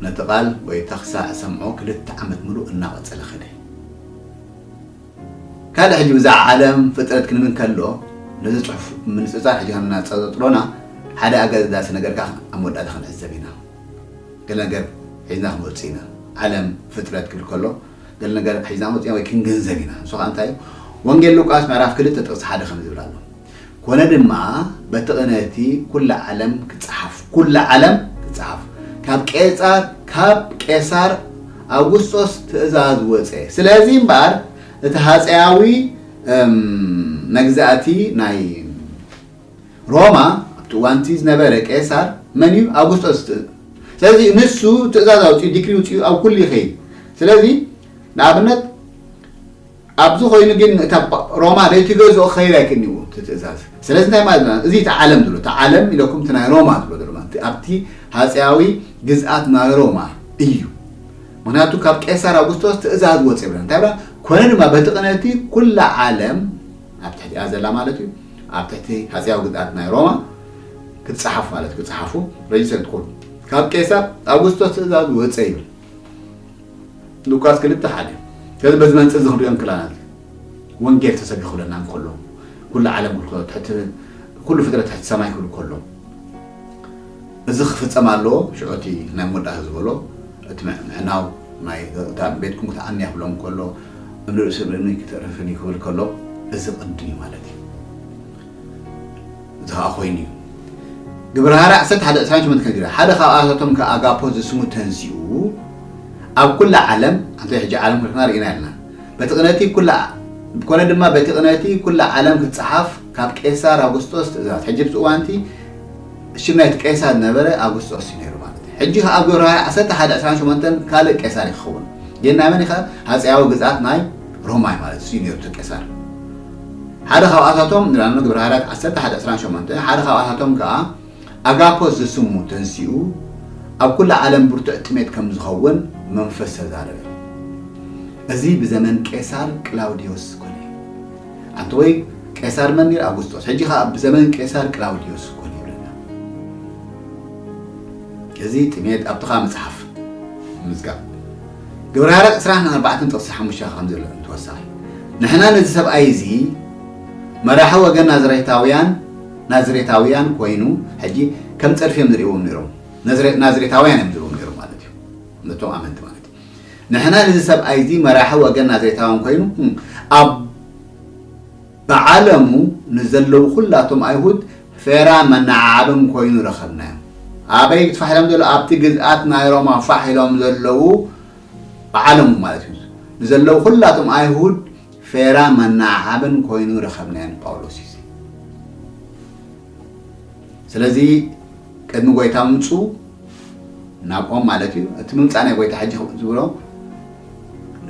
ነቲ ቃል ጎይታ ክሳዕ ዝሰምዖ ክልተ ዓመት ምሉእ እናቐጸለ ኸደ ካልእ ሕጂ ብዛዕባ ዓለም ፍጥረት ክንብል ከሎ ነዚ ጽሑፍ ምንጽጻር ሕጂ ከም እናጸጥሮና ሓደ ኣገዳሲ ነገር ከዓ ኣብ መወዳእታ ክንዕዘብ ኢና ገለ ነገር ሒዝና ክንወጽእ ኢና ዓለም ፍጥረት ክብል ከሎ ገለ ነገር ሒዝና መጺና ወይ ክንግንዘብ ኢና። ንሱ ኸኣ እንታይ እዩ? ወንጌል ሉቃስ ምዕራፍ ክልተ ጥቕሲ ሓደ ከምዚ ዝብል ኣሎ፣ ኰነ ድማ በቲ ቕነ እቲ ኵላ ዓለም ክትጸሓፍ፣ ኵላ ዓለም ክትጸሓፍ፣ ካብ ቄጻር፣ ካብ ቄሳር ኣውግስጦስ ትእዛዝ ወጸ፣ ስለዚ እምበኣር እቲ ሃጸያዊ መግዛእቲ ናይ ሮማ ኣብቲ እዋንቲ ዝነበረ ቄሳር መን እዩ ኣውጉስጦስ ትእ ስለዚ ንሱ ትእዛዝ ኣውፅኡ ዲክሪ ውፅኡ ኣብ ኩሉ ይኸይድ ስለዚ ንኣብነት ኣብዚ ኮይኑ ግን እታ ሮማ ዘይትገዝኦ ክኸይድ ኣይክእልዎ እቲ ትእዛዝ ስለዚ እንታይ ማለት ና እዚ እቲ ዓለም ዝብሎ እቲ ዓለም ኢለኩም እቲ ናይ ሮማ ዝብሎ ዘሎ ማለት ኣብቲ ሃፀያዊ ግዝኣት ናይ ሮማ እዩ ምክንያቱ ካብ ቄሳር ኣውጉስጦስ ትእዛዝ ወፅ ይብላ እንታይ ብላ ኮነ ድማ በቲ ቅነቲ ኩላ ዓለም ኣብ ትሕቲኣ ዘላ ማለት እዩ ኣብ ትሕቲ ሃጺያዊ ግዝኣት ናይ ሮማ ክትጸሓፍ ማለት እዩ ክትጸሓፉ ረጅስተር ክትኮኑ ካብ ቄሳር ኣውግስቶስ ትእዛዝ ወጸ ይብል ሉቃስ ክልተ ሓደ ስለዚ በዚ መንጽር እዚ ክንሪኦ እንክላና ወንጌል ተሰቢኹለና እንከሎ ኩሉ ዓለም ክልከሎ ትሕቲ ኩሉ ፍጥረት ትሕቲ ሰማይ ክብል ከሎ እዚ ክፍጸም ኣለዎ ሽዑ እቲ ናይ መወዳእታ ዝበሎ እቲ ምዕናው ናይ እታ ንቤትኩም ክትዓንያ ክብሎም ከሎ እምኒ ርእሲ ብእምኒ ክተርፍን እዩ ክብል ከሎ እዚ ቅድም እዩ ማለት እዩ እዚ ከዓ ኮይኑ እዩ ግብረ ሃርያ ዓሰርተ ሓደ ዕስራን ሸሞንተን ከንቲራ ሓደ ካብኣታቶም ከ ኣጋፖ ዝስሙ ተንሲኡ ኣብ ኩላ ዓለም ኣንተ ሕጂ ዓለም ክልክና ርኢና ኣለና በቲ ቅነቲ ኩላ ኮነ ድማ በቲ ቅነቲ ኩላ ዓለም ክትጸሓፍ ካብ ቄሳር ኣውግስጦስ ትእዛዝ ሕጂ ብቲ እዋንቲ ሽም ናይቲ ቄሳር ዝነበረ ኣጉስጦስ እዩ ነይሩ ማለት እዩ። ሕጂ ከኣ ኣብ ግብረ-ሐዋርያ ዓሰርተ ሓደ ዕስራን ሸሞንተን ካልእ ቄሳር እዩ ክኸውን። ግን ናይ መን እዩ ከ? ሃጸያዊ ግዝኣት ናይ ሮማ እዩ ማለት እዩ ነይሩ እቲ ቄሳር። ሓደ ካብኣታቶም ንላዕሊ ግብረ-ሐዋርያት ዓሰርተ ሓደ ዕስራን ሸሞንተን ሓደ ካብኣታቶም ከኣ ኣጋፖስ ዝስሙ ተንሲኡ ኣብ ኩላ ዓለም ብርቱዕ ጥሜት ከም ዝኸውን መንፈስ ተዛረበ። እዚ ብዘመን ቄሳር ቅላውዴዎስ ኮነ። ኣንተ ወይ ቄሳር መኒር ኣጉስጦስ ሕጂ ከኣ ብዘመን ቄሳር ቅላውድዮስ ኮን ይብለና እዚ ጥሜት ኣብቲ ከኣ መጽሓፍ ምዝጋብ ግብረ ሃረቅ ዕስራን ኣርባዕተን ጥቅሲ ሓሙሽተ ከም ዘሎ እንተወሳኺ ንሕና ነዚ ሰብኣይ እዚ መራሒ ወገን ናዝሬታውያን ናዝሬታውያን ኮይኑ ሕጂ ከም ጸድፊ እዮም ዝርእዎም ነይሮም ናዝሬታውያን እዮም ዝርእዎም ነይሮም ማለት እዩ ነቶም ኣመንቲ ማለት እዩ ንሕና ንዚ ሰብኣይዚ መራሒ ወገን ናዘይታውን ኮይኑ ኣብ ብዓለሙ ንዘለዉ ኩላቶም ኣይሁድ ፌራ መናዓዓብን ኮይኑ ረኸብናዮ። ኣበይ ትፋሕ ኢሎም ዘሎ ኣብቲ ግዝኣት ናይ ሮማ ፋሕ ኢሎም ዘለዉ ብዓለሙ ማለት እዩ ንዘለዉ ኩላቶም ኣይሁድ ፌራ መናዓዓብን ኮይኑ ረኸብናዮ ንጳውሎስ እዩ። ስለዚ ቅድሚ ጎይታ ምምፁ ናብኦም ማለት እዩ እቲ ምምፃእ ናይ ጎይታ ሕጂ ዝብሎ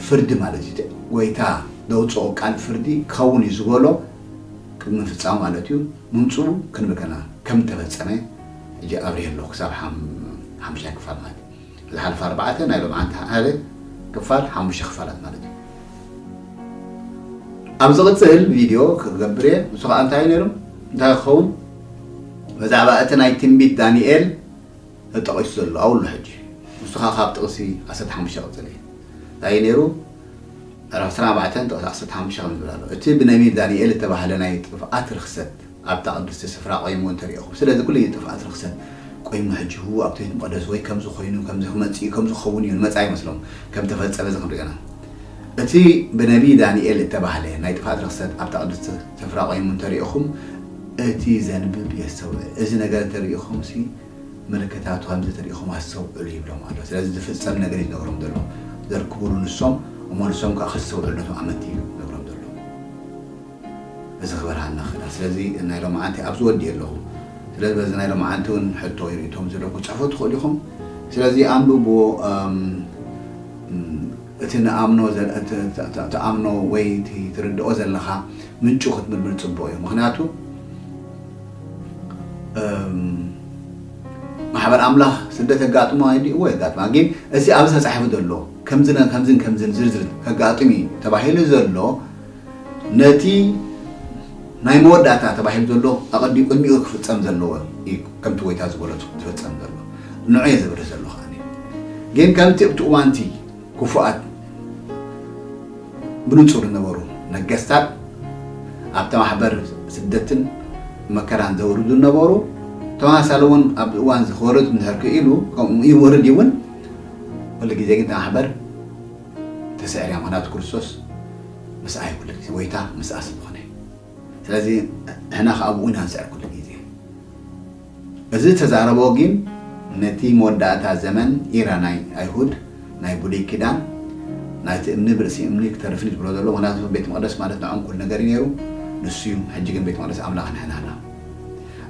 ፍርዲ ማለት እዩ ጎይታ ዘውፅኦ ቃል ፍርዲ ክኸውን እዩ ዝበሎ ቅድሚ ምፍፃሙ ማለት እዩ ምምፁ ክንብከና ከም ተፈፀመ ሕጂ ኣብርሄ ኣለኹ ክሳብ ሓምሻይ ክፋል ማለት እዩ ዝሓልፋ ኣርባዕተ ናይ ሎምዓንቲ ሓደ ክፋል ሓሙሽተ ክፋላት ማለት እዩ። ኣብ ዝቕጽል ቪድዮ ክገብር እየ። ንሱ ከኣ እንታይ እዩ ነይሩ እንታይ ክኸውን ብዛዕባ እቲ ናይ ትንቢት ዳንኤል ተጠቒሱ ዘሎ ኣብሉ ሕጂ ንሱ ከኣ ካብ ጥቕሲ ዓሰርተ ሓሙሽተ ቅጽል እዩ እንታይ እዩ ነይሩ ምዕራፍ ዕስራን ኣርባዕተን ጥቕሲ ዓሰርተ ሓሙሽተ ከም ዝብል ኣሎ እቲ ብነቢብ ዳንኤል እተባህለ ናይ ጥፍኣት ርኽሰት ኣብታ ቅድስቲ ስፍራ ቆይሙ እንተ ርኤኹም፣ ስለዚ ኩሉ ግዜ ጥፍኣት ርኽሰት ቆይሙ ሕጂ ህው ኣብቲ ቤት መቕደስ ወይ ከምዚ ኮይኑ ከምዚ ክመጽእ እዩ ከምዚ ክኸውን እዩ ንመጻኢ መስሎም ከም ተፈጸመ እዚ ክንሪኦ ኢና እቲ ብነብዪ ዳንኤል እተባህለ ናይ ጥፍኣት ርኽሰት ኣብታ ቅድስቲ ስፍራ ቆይሙ እንተ ርኤኹም እቲ ዘንብብ የስተውዕል እዚ ነገር እንተ ርኢኹምሲ ምልክታቱ ከምዚ እንተ ርኢኹም ኣስተውዕሉ ይብሎም ኣሎ ስለዚ ዝፍጸም ነገር እዩ ዝነግሮም ዘሎ ዘርክቡሉ ንሶም እሞ ንሶም ከኣ ከስተውዕሉ ነቶም ኣመንቲ እዩ ዝነግሮም ዘሎ እዚ ክበርሃ ንኽእል ስለዚ ናይ ሎምዓንቲ ኣብዚ ወዲኤ ኣለኹ ስለዚ በዚ ናይ ሎምዓንቲ ውን ሕቶ ወይ ሪኢቶ ምስዝሎ ክትጽሕፉ ትኽእሉ ኢኹም ስለዚ ኣንብብዎ እቲ ንኣምኖ ትኣምኖ ወይ እቲ ትርድኦ ዘለኻ ምንጩ ክትምርምር ጽቡቕ እዩ ምኽንያቱ ማሕበር ኣምላኽ ስደት የጋጥሞ ኣይዲ እዎ የጋጥማ ግን እዚ ኣብዚ ተጻሒፉ ዘሎ ከምዝን ከምዝን ከምዝን ዝርዝር ከጋጥም እዩ ተባሂሉ ዘሎ ነቲ ናይ መወዳእታ ተባሂሉ ዘሎ ኣቐዲሙ ቅድሚኡ ክፍጸም ዘለዎ እዩ ከምቲ ጎይታ ዝበሎ ዝፍጸም ዘሎ ንዑ እየ ዘብርህ ዘሎ ከኣ ግን ከምቲ ኣብቲ እዋንቲ ክፉኣት ብንጹር ዝነበሩ ነገስታት ኣብቲ ማሕበር ስደትን መከራን ዘውርዱ ዝነበሩ ተመሳሳሊ እውን ኣብዚ እዋን እዚ ክወርድ እንድሕር ክኢሉ ከምኡ ይወርድ ይውን ኩሉ ግዜ ግን እቲ ማሕበር ተሰዒርያ ምክንያቱ ክርስቶስ ምስኣ እዩ ኩሉ ግዜ ጎይታ ምስኣ ስለዝኮነ እዩ ስለዚ ንሕና ከኣ ኣብኡ ኢና ንስዕር ኩሉ ግዜ እዚ ዝተዛረቦ ግን ነቲ መወዳእታ ዘመን ኢራ ናይ ኣይሁድ ናይ ብሉይ ኪዳን ናይቲ እምኒ ብርእሲ እምኒ ክተርፍን ዝብሎ ዘሎ ምክንያቱ ቤት መቅደስ ማለት ንዖም ኩሉ ነገር እዩ ነይሩ ንሱ እዩ ሕጂ ግን ቤት መቅደስ ኣምላኽ ንሕና እና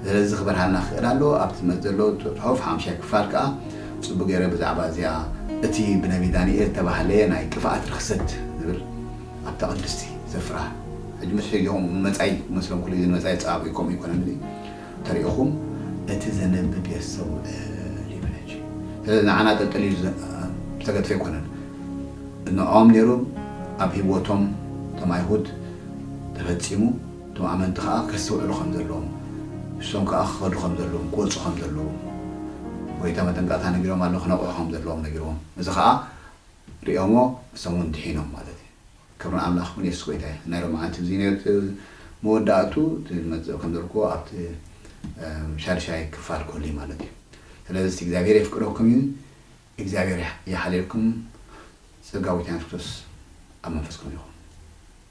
ስለዚ ክበርሃልና ክኽእል ኣለዎ። ኣብቲ መጽ ዘሎ ጽሑፍ ሓሙሻይ ክፋል ከኣ ጽቡቅ ጌረ ብዛዕባ እዚኣ እቲ ብነቢ ዳንኤል እተባህለ ናይ ጥፍኣት ርኽሰት ዝብል ኣብታ ቅድስቲ ሰፍራ ሕጂ ምስ ሕጂኦም ንመጻኢ ክመስሎም ክሉ እዚ ንመጻኢ ጸባብዩ ከምኡ ኣይኮነን እዚ ተሪእኹም እቲ ዘነብብ የስተውዕል ይብል ሕጂ ስለዚ ንዓና ጠልጠል ኢሉ ዝተገድፈ ኣይኮነን ንዕኦም ኔሩ ኣብ ሂወቶም እቶም ኣይሁድ ተፈጺሙ እቶም ኣመንቲ ኸኣ ከስተውዕሉ ኸም ዘለዎም፣ ንሶም ከኣ ክኸዱ ኸም ዘለዎም፣ ክወጹ ኸም ዘለዎም፣ ጎይታ መጠንቀቕታ ነጊሮም ኣሎ፣ ክነቕዑ ኸም ዘለዎም ነጊርዎም፣ እዚ ኸኣ ርእዮሞ ንሶም ውን ድሒኖም ማለት እዩ። ክብሪ ንኣምላኽ ይኹን የሱስ ጎይታ እዩ። ናይ ሎምዓንቲ እዚ ነቲ መወዳእቱ እቲ ዝመጽእ ከም ዘልኩዎ ኣብቲ ሻድሻይ ክፋል ክህሉ እዩ ማለት እዩ። ስለዚ እቲ እግዚኣብሄር የፍቅረኩም እዩ። እግዚኣብሄር ይሓልየልኩም ጸጋ ጎይታና የሱስ ክርስቶስ ኣብ መንፈስኩም ይኹን።